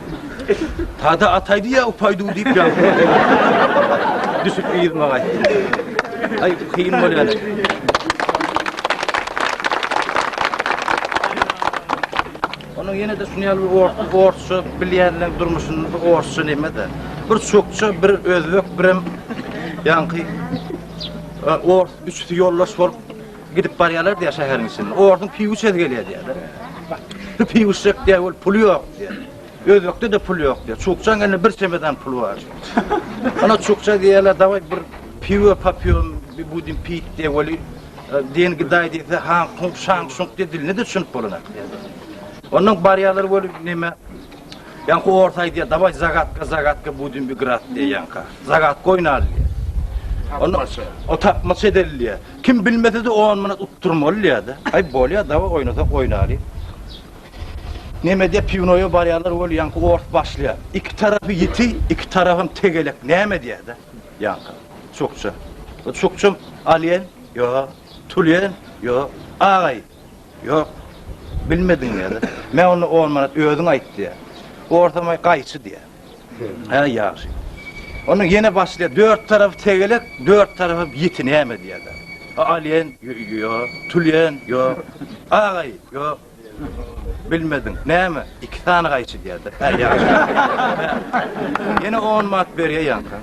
Tada ataýdy ýa upaýdyw diýip ýaňsyrak düşüp yzyma gaýtdym. Aý, kyn bolýar. Onuň ýene de şuny ýaly bir orsça bilýänler durmuşyny bir orsça näme-de. Bir çokça, bir özbek, birem ýaňky e, ors üçüsi ýoldaş bolup Gidip barýarlar diýýär şäheriň içinde. Orduň piwuşesi gelýär diýýärler. Bu piwuşek diýýär, ol puly ýok diýýär. Özbekde-de pul ýok diýýär. Çukçaň elinde bir çemedan pul bar. Ana çukça diýýärler, dawaý bir piwo popýom, bir budin pit diýýär, weli e, diýen gidaý diýse, han kung şang şung diýýär, diline de düşünip bolanak diýýär. Ondan barýarlar bolup näme? Ýaňky orta aýdýar, "Daway zagatka, zagatka budin bir grat" diýýär ýaňka. Zagat goýnaly diýýär. Onu o tapmaça edilýär. Kim bilmesede on manat utdurmaly diýýärdi. Aý bolýa dawa oýnasak oýnaly. Nemedýä piwnoýa barýarlar weli ýaňky ors başlaýa. Iki tarapy ýiti, iki tarapam tegelek näme diýäda ýaňky çukça. Bu çukçam alýan ýok, tulýan ýok, agaý ýok. Bilmediň diýäda. Men onda on manat özüň aýt diýä. Orsam aý gaýçy diýä. Hä, ýagşy. Onda ýene başlaýar. Dört tarapy tegelek, dört tarapy ýiti näme diýerler. Alýen, ýok. Tulýen, ýok. Agaý, ýok. Bilmediň. Näme? Iki sany gaýçy diýerler. Hä, ýagşy. Ýene on manat berýär ýaňka.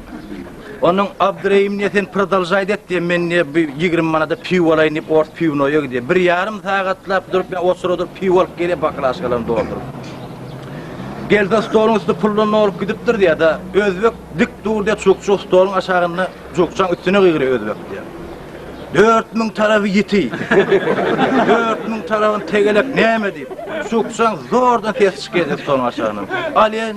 Onuň Abdyrehim ne sen prdalžaýt et diýen men ne bir ýigrimi manada piwo alaýyn diýip ors piwnoýa gidýän. Bir ýarym sagatlap durup men oçura durup piwo alyp gelýän baklažkalaryny dolduryp. Gelse stoluň üsti puldan dolup gidipdir diýýäda özbek dik dur diýýä çukçuk stoluň aşagynda çukçaň üstüne gygyrýa özbek diýýä. Dört müň tarapy ýiti. Dört müň tarapyny tegelek näme diýip. Çukçaň zordan sesi çykýa stoluň aşagyndan. Alýan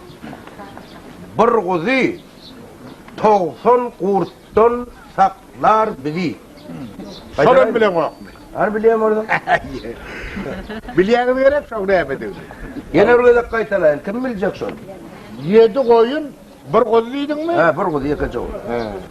Bir guzy togsan gurtdan saklar bizi. Şolam bileňokmy? Hany bilýän bolsaň. Bilýäňiz gerek şoň nämedigini. Ýene bir gezek gaýtalaýyn, kim biljek şony? Ýedi goýun, bir guzy diýdiňmi? Hä, bir guzy, ýekeje guzy.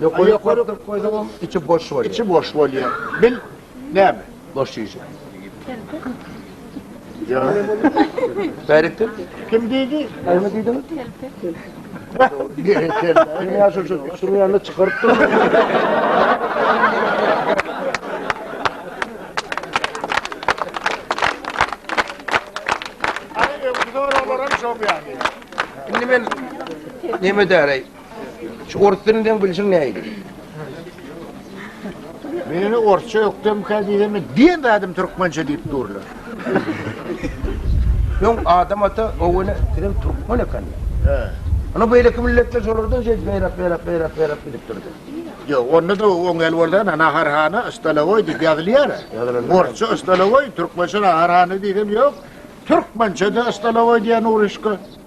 Ýokary ýokary goýsaňam içi boş bolýar. Içi boş bolýar. Bil näme? Boş şişe. Ýa. Bärikdir. Kim diýdi? Näme diýdiň? Sen ýa şu şu şunuň ýanyna çykaryp dur. Ay, öňki soraglaram şoň ýaly. Indi men näme edäreý? Şu orus dilini seň bilşiň nähili? Meni orsça ökdemkä diýsene, diýmedim türkmençe diýip durlar. Öň Adam ata Owene sizem türkmen ekenler. He. Ony beýleki milletler şolardan şeýdip beýräk beýräk beýräk beýräk gidip durdy. Ýok, onda da oňel bolsana Naharhana stolowoý diýip ýazylýar. Ýazylandyr. Orsça stolowoý, türkmençe naharhana diýsem ýok. Türkmençe de stolowoý diýen uruşka.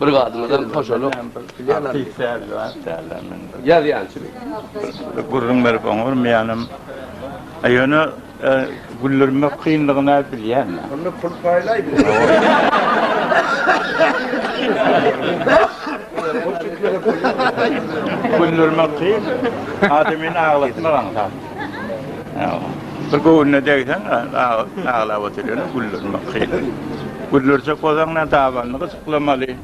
Bir gadymyzam hoşalyk. Ýazýançy. Gürrüň berip oňarmaýanam. Ýöne güldürmek kynlygyny aýyp bilýän. Onda pul paýlaý bir. Güldürmek kyn. Adamyny aglatmak aňsat. Bir göwnüne degseň aglap oturýan güldürmek kyn. Güldürsek bolsaň näme dabanlyk. Gyzyklanmaly,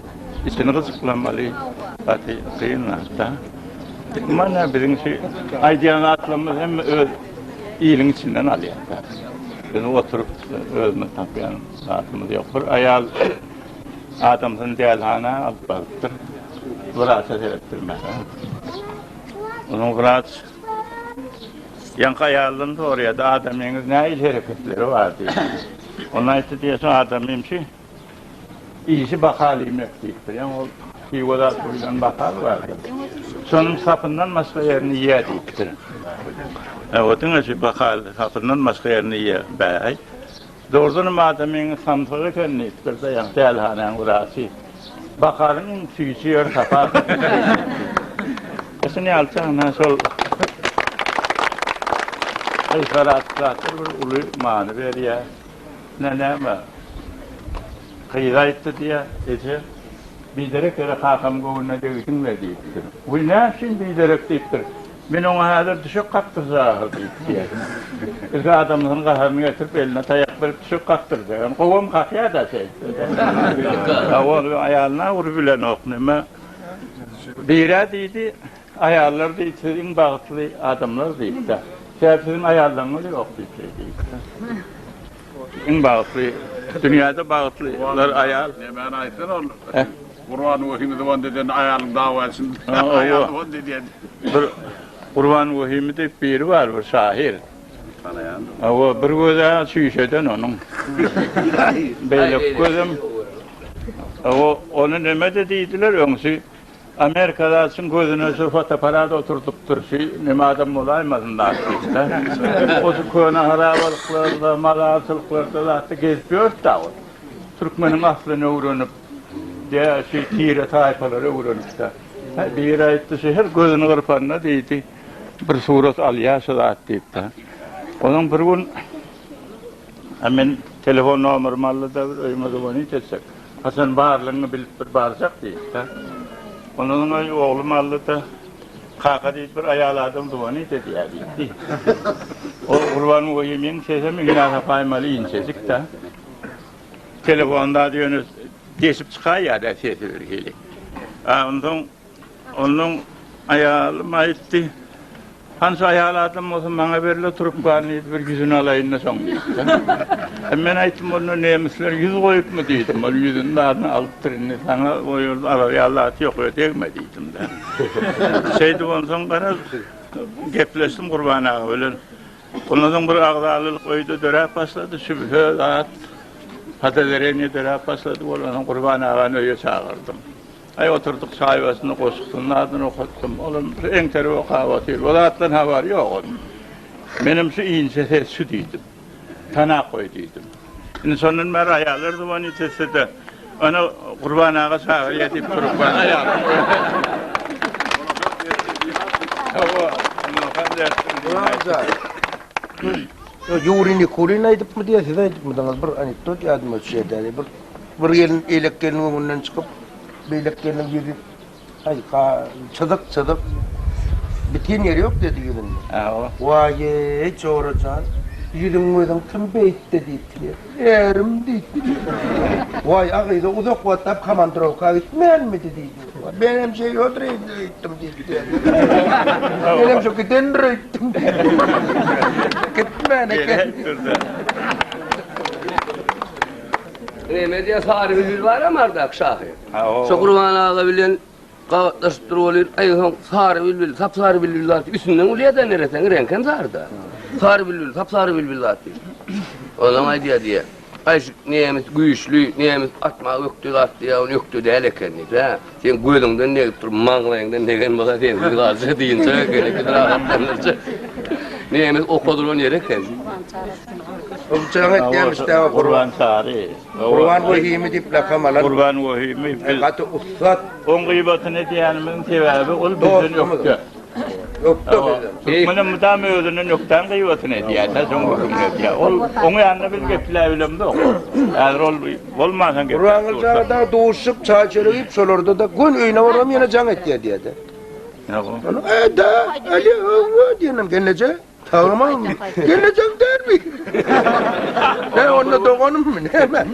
içini gyzyklanmaly, gaty kyn zatda. Mana biziň şu aýdýan zatlarymyz hem öz iliň içinden alýarka. Biz oturyp özümiz tapýan zatymyz ýok. Bir aýal adamsyny dälhana alyp barypdyr. Wraça seretdirmäge. Onuň wraç ýaňky aýaldan soraýardy, adamyňyz nähili hereketleri bar diýip. Ol aýtdy diýýär, şu adamym şu. Işi bahal iýmek diýipdir. Ýa ol hiwa zat boýlan bahal bardyr. Şonuň sapyndan başga ýerini iýýär diýipdir. Ýa o diňe şu bahal sapyndan başga ýerini iýýär. Bäý, dogrudanam adamyň samsyk eken diýipdir-de, ýa dälhanäň wraçy. Bahalyň iň süýji ýeri sapa. Şuny ýalçan ha şol yhlas zatlar bir uly many berýär. Ine näme, gyz aýtdy diýýä, eje, biderek ýere kakam göwnüne degdiň-le diýipdir. Wiý, näçün biderek diýipdir. Men oňa häzir düşek kakdyrjaga diýip diýýä. Ilki adamsynyň gaharyny getirip, eline taýak berip düşek kakdyrjak. Ýöne gowam kakýa-da şeýtse. Ol aýalyna urup bilenok, näme, bir-ä diýdi. Aýallar diýip, siz iň bagtly adamlar diýipdir. Sebäbi siziň aýallaryňyz ýok diýipdir diýipdir. Iň bagtly, dünýäde bagtlylar aýal. Nämäni aýtsyn ol? Gurban Wahimi zyban edende aýalyň dawa etsin. Aýal zyban edýär. Bir Gurban Wahimi diýip biri bar bir şahyr. Tanaýan. Hawa, bir gözi çüýşeden onuň. Beýleki gözem. Hawa, ony nämede diýdiler öňsi? Amerika zat üçin gözüne şu fotoapparat oturdypdyr, şu neme adam bolaýmasyn zat diýip-de. Ol şu köne harabalyklarda, mazarçylyklarda zatda gezip ýörüpd-ä ol. Türkmeniň aslyny öwrenip, de şu tire-taýpalary öwrenip-de. Biri aýtdy, şu her gözüni gyrpanda diýdi, bir surat alýar şu zat diýip-de. Onuň bir gün Hä men telefon nomerymy aldy-da bir öýüme zowonit etsek. Haçan barlygyňy bilip bir barjak diýdi-de. Ondan soň öý oglum aldy-da Kaka diýdi bir aýal adam zowonit edýär diýdi. O Gurban oýe meniň sesim Iňnaz apaýmaly inçejik-dä. Telefonda ýöne deşip çykaýýa-da sesi birhili. Ondan soň Onuň aýalym aýtdy. Hansy aýal adam bolsa maňa berle trubkany diýdi, bir ýüzüni alaýyn-da soň diýdi. Men aýtdym, onda nemisler ýüz goýupmy diýdim, ol ýüzüni baryny alypdyr, indi saňa o ýerde alar ýaly zat ýok, öe degme diýdim-de. Şeýdip onsoň gara gepleşdim Gurban aga bilen. Ondan soň bir agzalylyk öýde döräp başlady, sübhe zat podawereniýe döräp başlady, bolany Gurban agany öýe çagyrdym. Aý oturdyk çaý başynda goşgusynyň adyny okatdym. Olam şu eňterip okap otyr. Bu zatdan habary ýok onuň. Menem şu inçe ses şu diýdim. Tanap goý diýdim. Indi şondan bäri aýallar zubany tüssede, Ana, Gurban aga çagyrýar diýip turup bar aýalam. Hawa, Nurhan dertdim diýip. Ýuri Nikulin aýdypmy diýýär, siz aýdypmydyňyz? Bir anekdot ýadyma düşýär däli. Bir Bir gelin eýlek gelniň öňünden çykyp, beýlek gelniň ýüzi taýka, çyzyk-çyzyk. Biten ýeri ýok diýdi ýüzünde. Hawa. Waý-eý, Jora jan, ýüzüň-möziň kim beýtdi diýipdi. Ärim diýipdi. Waý, agyza uzak wagtlap komandrowka gitmänmidi diýdi. Men hem Seýodyr eýdip öýtdüm diýipdi. Men hem şo gidendir öýtdüm diýipdi. Gitmän eken. Neme diýýär Sary bülbül baram ardak şahyr. Şo Gurban aga bilen gabatlaşyp dur bolyr. Aý soň Sary bülbül, sap sary bülbül zat üstünden gülýädä nereseň reňkem saryda. Sary bülbül, sap sary bülbül zat diýip. Onam aýdýar diýýär. Gaýşyk nemes güýçli, nemes atma ökde zat diýýär, ony ökde däl eken diýip, hä. Seň gözüňden degip dur, maňlaýyňdan degen bolsa sensiz galja diýinçä gerekli rahatlandyrjy. Nemes okadylan ýeri eken. Gurbançary etýämiş däw Gurbançary. Gurban Wehimi diýip lakam alan. Gurban Wehimi biz. Gaty ussat. Oň gybatyny edýänimiň sebäbi ol bizden ökde. Türkmenem mydam özüne nökdan gyýbatyny edýär, näz oň gürrüňini edýär. Ol oň ýanynda biz gepläp bilemzok. Häzir ol bolmansoň gepläp. Gurbanguly jana dagy duşup, çaý çörek iýip, şolarda-da göni öýüne baram ýene jaň etýär diýýär-de. Ýa-da, Alýa, hawa, diýenem, gelneje. Sagmymy? Gelnejem dälmi? He, onda doganymmy, näme?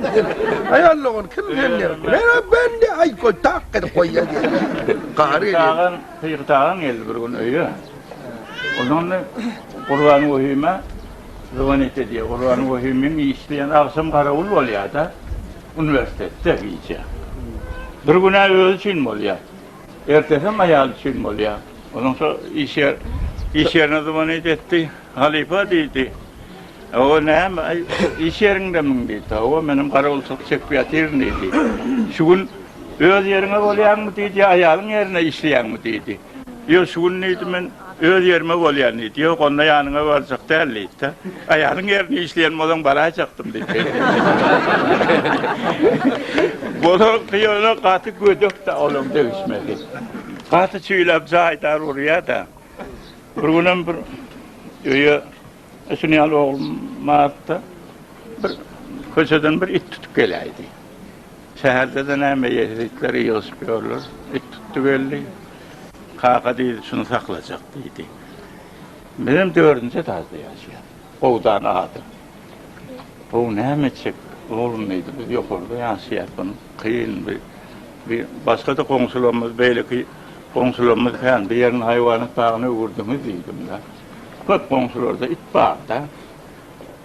Aýal dogan kim sende? Menä bende, aý, goý, tak edip goýaý diýdi. Gahary gelýär. Pygyt agam geldi bir gün öýe. Ondan Gurban Wehime zwonit edýär. Gurban Wehimiň işi diýen agşam garawul bolýar-da, uniwersitetde gije. Bir gün-ä özi üçin bolýar. Ertesi hem aýaly çyn bolýar. Onuň şo iş ýer, iş ýerine zybany ýetdi. Halypa diýdi. Hawa, näme, aý, iş ýeriňdemiň diýdi. Hawa, men hem garawulçylyk çekip ýatyryn diýdi. Şu gün öz ýeriňe bolýaňmy diýdi, ýa aýalyň ýerine işleýäňmi diýdi. Ýok, şu gün diýdi, men Öz ýerime bolýan diýdi. Ýok, onda ýanyňa barjak däl diýdi-de. Aýalyň ýerinde işleýän bolsaň baraýjakdym diýdi. Bulaňky ýöne gaty gödek-dä olaň degişmesi. Gaty çüýläp jaýdar urýar-da. Bir günem bir öýe Ötün ýaly oglum bardy-da, bir köçeden bir it tutup geläýdi. Şäherde-de näme ýezitler ýygyşyp ýörler. It tutdy geldi. Kaka diýdi, şuny saklajak diýdi. Bizem dördünji etažda ýaşaýarys. Gowudan adam. Gowy näme etjek oglum diýdi. Biz ýokarda ýaşaýarys. Bunu kyn bir bir başga-da goňşularymyz, beýleki goňşularymyz kän. Bu ýerini haýwanat bagyna öwürdiňiz diýdim-de. Köp goňşularda it barda.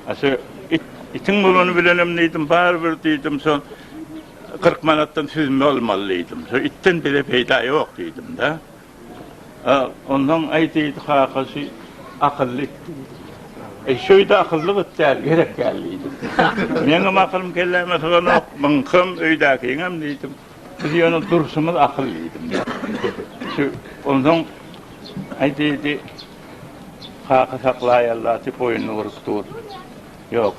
A şu it, itiň bolany bilenem diýdim, barybir diýdim, şo kyrk manatdan süzme almaly diýdim. Şo itden bize peýda ýok diýdim-de. A ondan aý diýdi, kaka şu akylly it diýdi. Eý, şu it akylly it däl, gerek däl diýdim. Meňem akylym kelläme syganok, muňkam, öýdäkiňem diýdim. Siz ýöne durşuňyz akyl diýdim. Şu onsoň Aý diýdi, Kaka saklaýarlar diýip boýnuny burup dur. Ýok,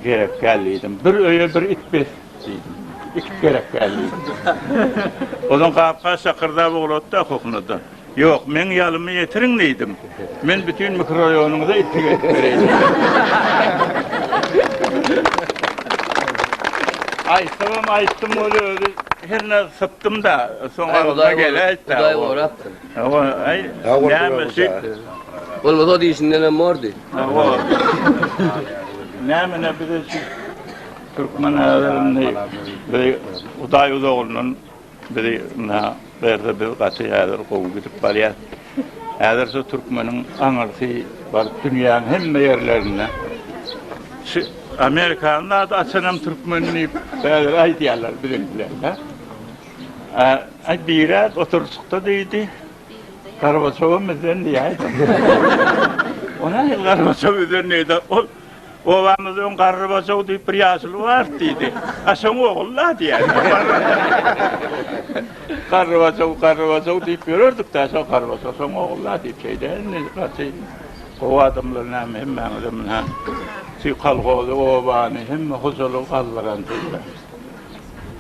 gerek däl diýdim. Bir öýe bir it bes diýdim. It gerek däl diýdim. Onsoň gap-gaç şakyrdap ugratdy okokunadan. Ýok, meň ýalymy ýetiriň diýdim. Men bütin mikroraýonyňyza itlik edip bereýin. Aýtsam, aýtdym ol özi hernä sypdym-da, soň agzyma geläýt-de. Hudaý gorapdyr. Hawa, aý, näme şeýtdi. Bolmasa ol işindenem bordy. Hawa. Näme-ne bize şu türkmen älerini, Hudaý uzagyndan Bizi mundan berse biz gaty häzir gowy gidip barýas. Häzir şu türkmeniň aňyrsy baryp dünýäň hemme ýerlerinde. Şu Amerikanyň zady açanam türkmen diýip häzir aýdýarlar biziň bilen de. Aý birek oturşykda diýdi. Gorbaçow hem bizden diýäýdi. Ony Gorbaçow bizden diýdi. Ol Obamyzda öň garry bojag diýip bir ýaşuly bar diýdi. A şoň ogul-la diýýär. Garry bojag, garry bojag diýip ýörerdik-dä, şo garry bojag şoň ogul-la diýip şeýdä indi gaty gowy adamlar näme hemmäňize munha şu kolhozy, obany, hemme hojalygy galdyran diýýär.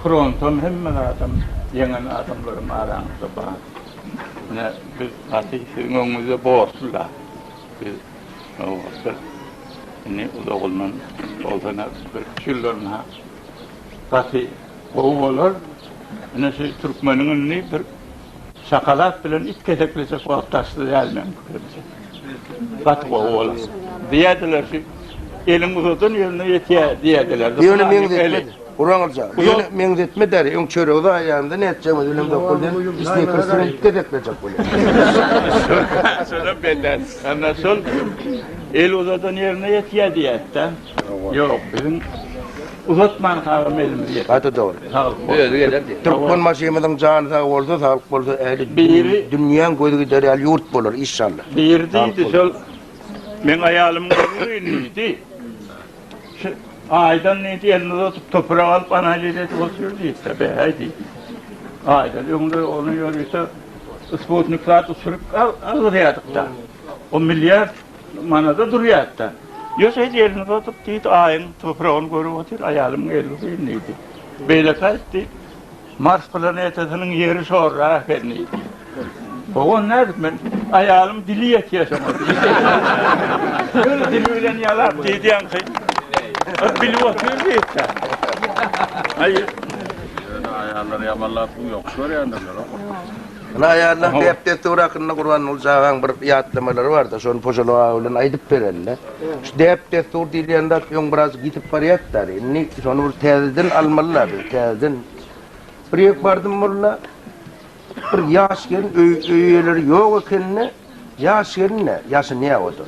Frontam hemme zadam ýeňen adamlarym araňyzda bar. Munha biz gaty siziň öňüňizde borçly-la. Biz nobatda indi uzagyndan bolsa-da birki ýyllarynha gaty gowy bolar. Ine şu türkmeniň indi bir şakalak bilen it keseklejek wagty açdy däl meniň pikirimçe. Gaty gowy bolar. Diýerdiler şu eliň uzadan ýerine ýetýär diýerdiler. Ýöne meňzetmedi. Guraňylja, bu ýöne meňzetme däl, öň çöregi zaýaýanda nätjegimiz bilen dokul diýen Snikersiňem iki gezek berjek bolýar. Şonam beter. Emma şol el uzadan ýerine ýetýär diýýäs-dä. Ýok, biziň uzatman kagam elimizi ýetik. Gaty dogry. Saglyk bolsun. Özi geler diýip. Türkmen maşymyzyň jany sag bolsa, saglyk bolsa, ähli dünýäň gözi gider ýaly ýurt bolar, işşalla. Biri diýdi, şol meň aýalymyň özi öýündedi. Şu Aýdan diýdi, elini uzadyp, toprak alyp, analiz edip otur diýdi-de, beýhäý diýdi. Aýdan öňde ony ýörite sputnik zat uçuryp algyrýardyk-da. O milliard manada durýardy-da. Ýöne şeýdip elini uzadyp diýdi, Aýyň topragyny görüp otur, aýalymyň eli uzyn diýdi. Beýleki aýtdy. Mars planetasynyň ýeri şorra eken diýdi. Ogon nädip men aýalym dili ýetýä şoňa. Ýöne dili bilen ýalap diýdi ýaňky. Bilip otyr diýdi. Aý. Ýöne aýallar ýamanlap ýok görýändirler. Ine aýallar däp-dessur hakynda Gurbanguly jagaň bir ýatlamalary bardy, şony Pojaly aga bilen aýdyp berende. Şu däp-dessur diýilýän zat öň birazjyk ýitip barýardy-da, indi şony bir täzeden almaly-la biz, täzeden. Bir ýer bardym molla, bir ýaş gelin, öý eýeleri ýok ekeni-de, ýaş gelin-de, ýaşynýa oda.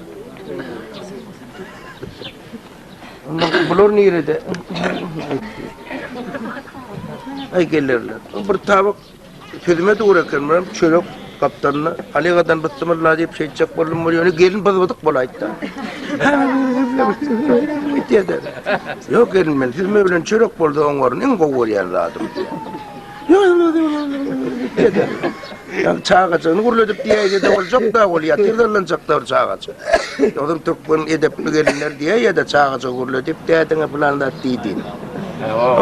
Onda bular nirede? Aý gelerler. Bir tabak Sözüme dogry eken, men çörek gapdalynda Halegadan bysymylla diýip şeýtjek boldum, bol ýöne gelin byzbydyk bolaýtda. Ýok gelin men siz bilen çörek boldy oň orun iň gowy görýän zadym. Ýa çagajyny gurludyp diýýärdi de boljak da ol ýa tiz allanjak da çagajy. Ýogsa türkmen edepli gelinler diýýär ýa-da çagajy gurludyp diýýärdi, bulan zat diýdi.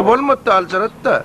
Bolmady da aljarat da.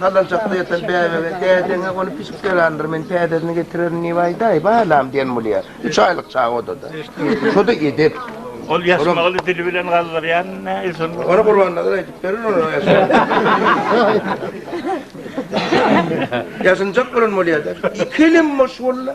Salançakda ýatan bäbege, Dädeň-ä ony pişik ýalandyr, men täzesini getirerin diýip aýdaý, balam, diýen bolýar. Üç aýlyk çaga odada. Şo-da edep. Ol ýasmagyny dili bilen galdyrýan näilsun. Ony Gurbannazar aýdyp berer, ol ýasmagyny. Ýasynjak bolan bolýar-da. Iki elem boş walla.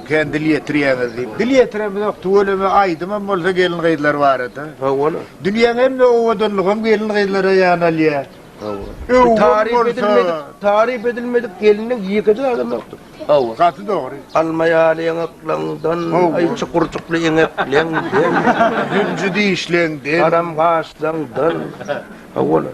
Kän dil ýetirýäňiz diýip. Dil ýetiremizok, tüweleme aýdymam bolsa gelin-gyzlar barada. Hawa. Dünýäň hemme owadanlygam gelin-gyzlara ýanalýar. Hawa. Öwgüň bolsa. Taryp edilmedik, taryp edilmedik gelniň ýeke-de adamokdyr. Hawa. Gaty dogry. Alma ýaly ýaňaklaňdan, aý çukurjykly eňekleňden. Zünji dişleňden. Haram gaşlaňdan. Hawa-la.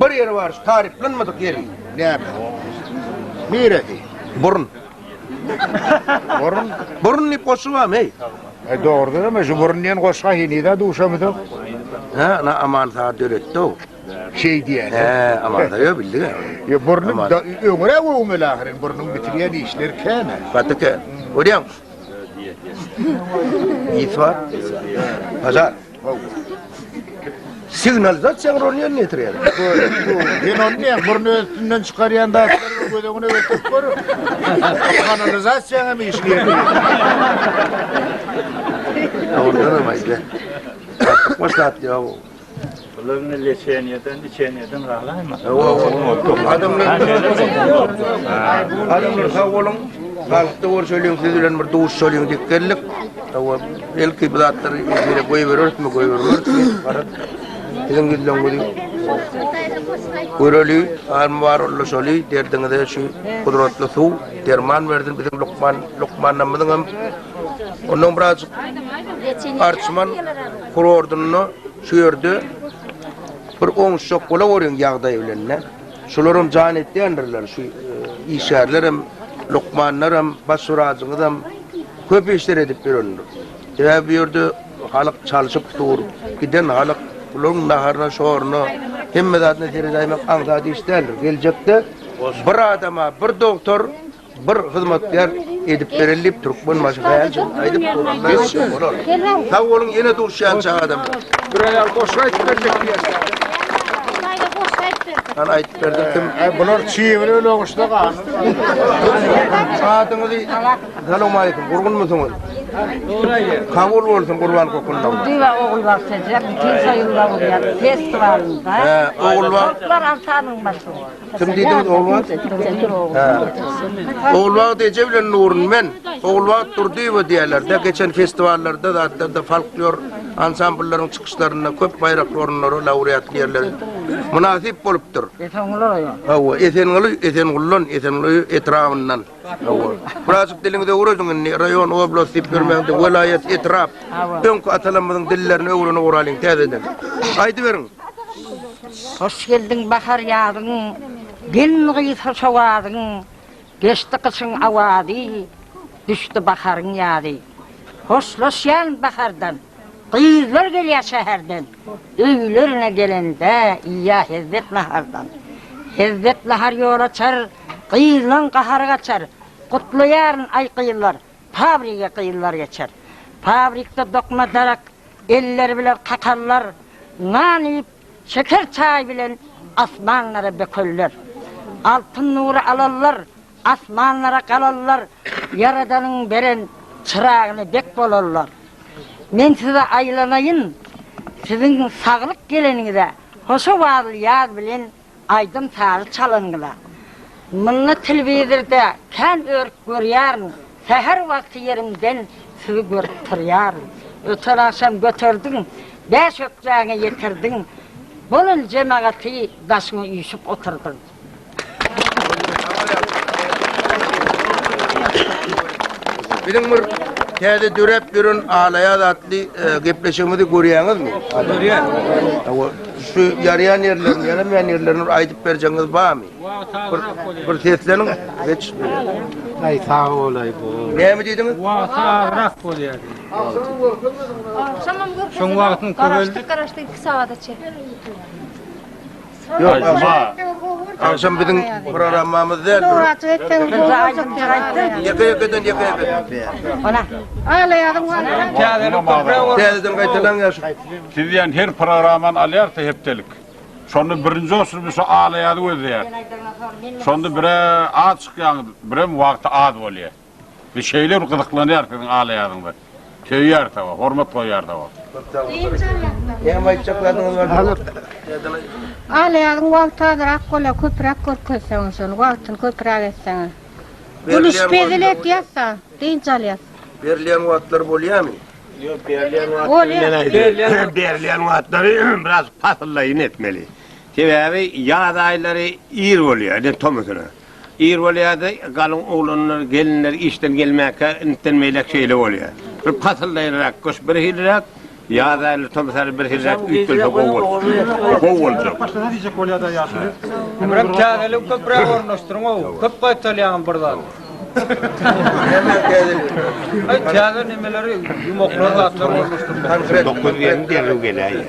Bir ýeri bar şu taryplanmadyk ýeri. Näme? Niresi? Burun. Burun. Burun diýip goşgy barmy? Eý. E dogrudan hem şu burun diýen goşga henize duşamyzok. Ha, na aman saat döretdi o. Şey diýen. He, aman da yo bildi. Yo burnum da öňre öňre ahyrin burnum bitirýän işler käne. Gaty kä. Görýäň. Ýetwa. Pazar. Signalizasiýaň roly ýerine ýetirýär. Men ony näme burny üstünden çykarýan da göz öňüne getirip gör. Kanalizasiýaň hem işini ýerine ýetirýär. Ondan hem aýtla. Başlat ýa. Bular ne leçeniyeden, içeniyeden galayma. Adamlar Adamlar sağ olun. Halkda görüşelim siz bilen bir duşuşalyň dikgerlik. Hawa, belki bu zatlary ýere goýbererismi, goýbermerismi, garap, siziň ýüzleňizi göreli, almy bar ulaşaly, derdiňize şu gudratly suw, derman bersin biziň lukman, lukmanlarymyzyň hem ondan birazjyk arçman kurortunda şu ýerde bir oňuşjak bola görýän ýagdaý bilen, ne? Şular hem jan etýändirler, şu e, işgärler hem, lukmanlar hem, baş wraçyňyz hem, Köp işler edip ýörendir. Sebäbi bu ýerde halyk çalşyp dur. Giden halyk bularyň naharyna, şoruna, hemme zadyna seredäýmek aňsat iş däldir. Geljekde bir adama bir dogtor, bir hyzmatkär edip bereli diýip Türkmenbaşy Haýaljan aýdyp dur. Sag boluň ýene duşýança adamlar. Bir aýal goşgy aýdyp berjek diýýär. Ana aýdyp berdirdim. Bular çybyr öle oguşda galdy. Adyňyzy Salowmaleýkim, gurgunmysyňyz? Goraýýa. Kabul bolsun Gurban Kokundam. Düýe ogulbagçaja bütin soýum dogulýar festiwalynda. Hä, ogulbag. Toplar altanyň başy bor. Kim diýdiňiz ogulbag? Hä. Ogulbagt eje bilen Nurun men. Ogulbagt Durdyýewa diýerler-de, geçen festiwallarda zatlarda folklor ansambllaryň çykyşlarynda köp baýrakly orunlara laureatly ýerleri mynasyp bolupdyr. Esenguly oýa. Hawa, Esenguly, Esenguldan, Esenguly etrabyndan. Birazjyk diliňizi öwrediň indi, raýon, oblast diýip ýörmäň, welaýat, etrap. Öňki atalarymyzyň dillerini öwrenip oralyň täzeden. Aýdyberiň. Hoş geldiň bahar ýazyň, Gelin gyz hoş owazyň, Geçdi gyşyň awazy, Düşdi baharyň ýazy. Hoşlaşýan bahardan. Gyzlar gelýär şäherden. Öýlerine gelende iýýär hezzet nahardan. Hezzet nahar ýol açar, gyzlaň gahary gaçar. Gutlaýaryn, aý, gyzlar, fabrige gyzlar geçer. Fabrikde dokma darak, elleri biler kakallar. Nan iýip, şeker çaý bilen asmanlara bökerler. Altyn nury alallar. Asmanlara galarlar, Ýaradanyň beren çyragyna bek bolarlar. Men size aýlanaýyn, siziň saglyk geleniňize, hoşawazly ýaz bilen aýdym-sazy çalanyňyza. Munda telewizorda kän örüp görýärin, säher wagty ýerimden sizi görüp turýaryn. Öten agşam göterdiň, bäş ökjäňe ýetirdiň, bolan jemagaty daşyňa üýşüp oturdyň. Biziň bir täze döräp ýören Alaýaz atly e, gepleşigimizi görýäňizmi? Görýän. Hawa, şu ýaraýan ýerlerini, ýaramaýan ýerlerini bir aýdyp berjegiňiz barmy? Bir, bir sesleniň. Geç. Ay sağ olay bu. Näme diýdiňiz? Wagty agrak bolýar. Şoň wagtyň köweldi. Garaşdyk, garaşdyk 2 sagada çek. Ýok, agşam biziň programmamyz däl. Murat etseň bu aýdyp ýaýtdy. Ýeke ýekeden ýeke ýeke. Ana. Alaýadyň bar. Täzeden köpräk bol. Täzeden gaýtalaň ýaş. Siz diýen her programmany alýarsa hepdelik. Şonda birinji olsun biz şu alaýady gözleýär. Şonda bire az çykýaňyz, birem wagty az bolýar. Biz şeýle bir gyzyklanýarys siziň alaýadyňyza. Söýýäris hawa, hormat goýýarys hawa. Köp sag bol Sary eje. Hemem aýtjak zadyňyz bar diýip. Alaýadyň wagty azyrak bolýa köpüräk görkezseňiz şony wagtyny köpüräk etseňiz. Gülüşip hezil etýäsda dynç alýas. Berilýän wagtlary bolýamy? Ýok berilýän wagtlary men aýdýan. Berilýän wagtlary biraz pasyllaýyn etmeli. Sebäbi ýaz aýlary ir bolýa eden tomusuna. Ir bolýardy, galyň oglanlar, gelinler işden gelmäkä, intden beýläk şeýle bolýar. Bir pasyldaýynrak gyş birhiliräk, ýaz aýlary, tomus aýlary birhiliräk üýtgelse gowy boljak. Gowy boljak. Başlasa diýjek bolýar-da ýaşuly. Ömrem täzeligi köpräk ornaşdyryň-ow. Köp gaýtalýaňam bir zady. Näme täzeligi? Täze nemeleri, ýumaklary, zatlary ornaşdyrmak. Dokuz gelin derrew geläýýär.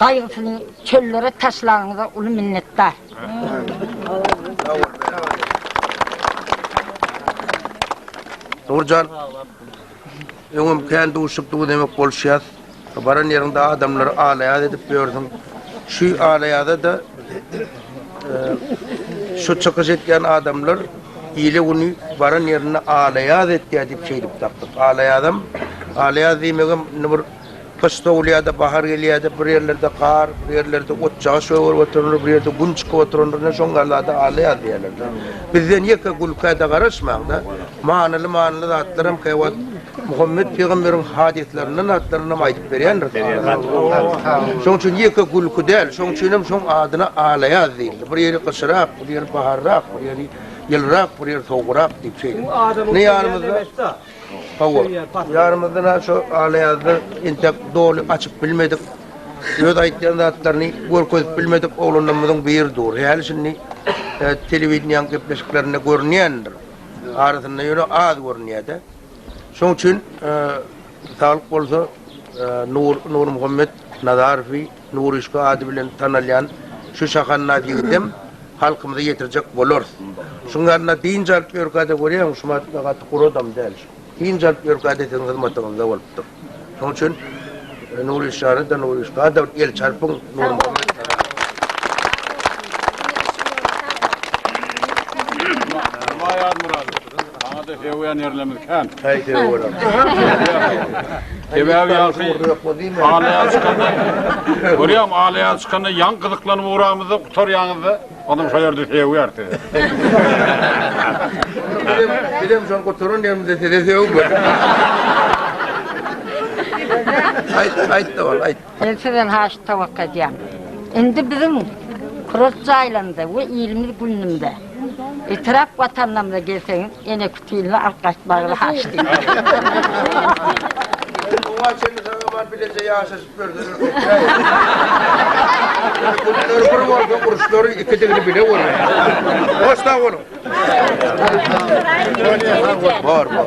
Gaýgysyny çöllere taşlagyňyza uly minnetdar. Nurjan, öňem kän duşup dugy demek boluşýas. Baran ýeriňde adamlary alaýaz edip ýörsüň. Şu alaýaza-da şu çykyş etýän adamlar ile güni baran ýerinde alaýaz etýär diýip şeýdip tapdyk. Alaýazam, alaýaz diýmegem indi bir Gyş sowulýar-da, bahar gelýär-de, bir ýerlerde gar, bir ýerlerde otjaga şöwürip oturandyr, bir ýerde gün çykyp oturandyr, ine, şoň gallada alla ýaz diýerler-de. Bizden ýeke gülkä-de garaşmaň-da, manyly-manyly zatlaram käwagt Muhammet pygamberiň hadyslaryndan zatlaryny-nam aýdyp berýändiris alamyza. Şoň üçin ýeke gülki däl, şoň üçinem şoň adyna alla ýaz diýildi. Bir ýeri gyşyrak, bir ýeri baharrak, bir ýeri ýylyrak, bir ýeri sowugrak diýip şeýle. Indi ýanymyzda Hawa, ýarymyzdan has şo ala-ýazda entek doly açyp bilmedik. Öz aýtýan zatlaryny görkezip bilmedik oglanlarymyzyň biri dur. Häli şindi telewideniýäň gepleşiklerinde görünýändir. Arasynda ýöne az görünýär-de. Şoň üçin saglyk bolsa Nur Nurmuhammet Nazarowy Nuryşka ady bilen tanalýan şu şahannaz ýigitem halkymyza ýetirjek bolarys. Şuň ýanyna dynç alyp ýörkäde görýäňmi, şu Matykda gaty gury adam däl şu. Dynç alyp ýörkäde siziň hyzmatyňyzda bolupdyr. Şoň üçin Nuryşjany-da, Nuryşka-da bir elçi harpyň Nurmuhammet aga. Aýazmyrat, saňa-da söýýän ýerlerimiz kän. Häý, söýüň, bolam. Sebäbi ýaňky alaýa çykanda, görýäňmi, alaýa çykanda ýaňky gyzyklanyp ugramyzda gutarýaňyzda, onsoň şol ýerde sögýär sizi. Bizem şol gutaran ýerimizde sizi sögüp. Aýt, aýt, dowam, aýt. Men sizden haýyş towakga edýän. Indi biziň kurort jaýlarymyza we ilimiz günümde etrap watanlarymyza gelseňiz ene kütilini alyp gaýtmagyňyzy haýyş edýän. Oňa çenli saňa bar bileje ýaşaşyp görseler köpräýer. Günleri bir bolsa uruşlaryň ikidigini bile görersiň. Hoş sag boluň. Bor bor.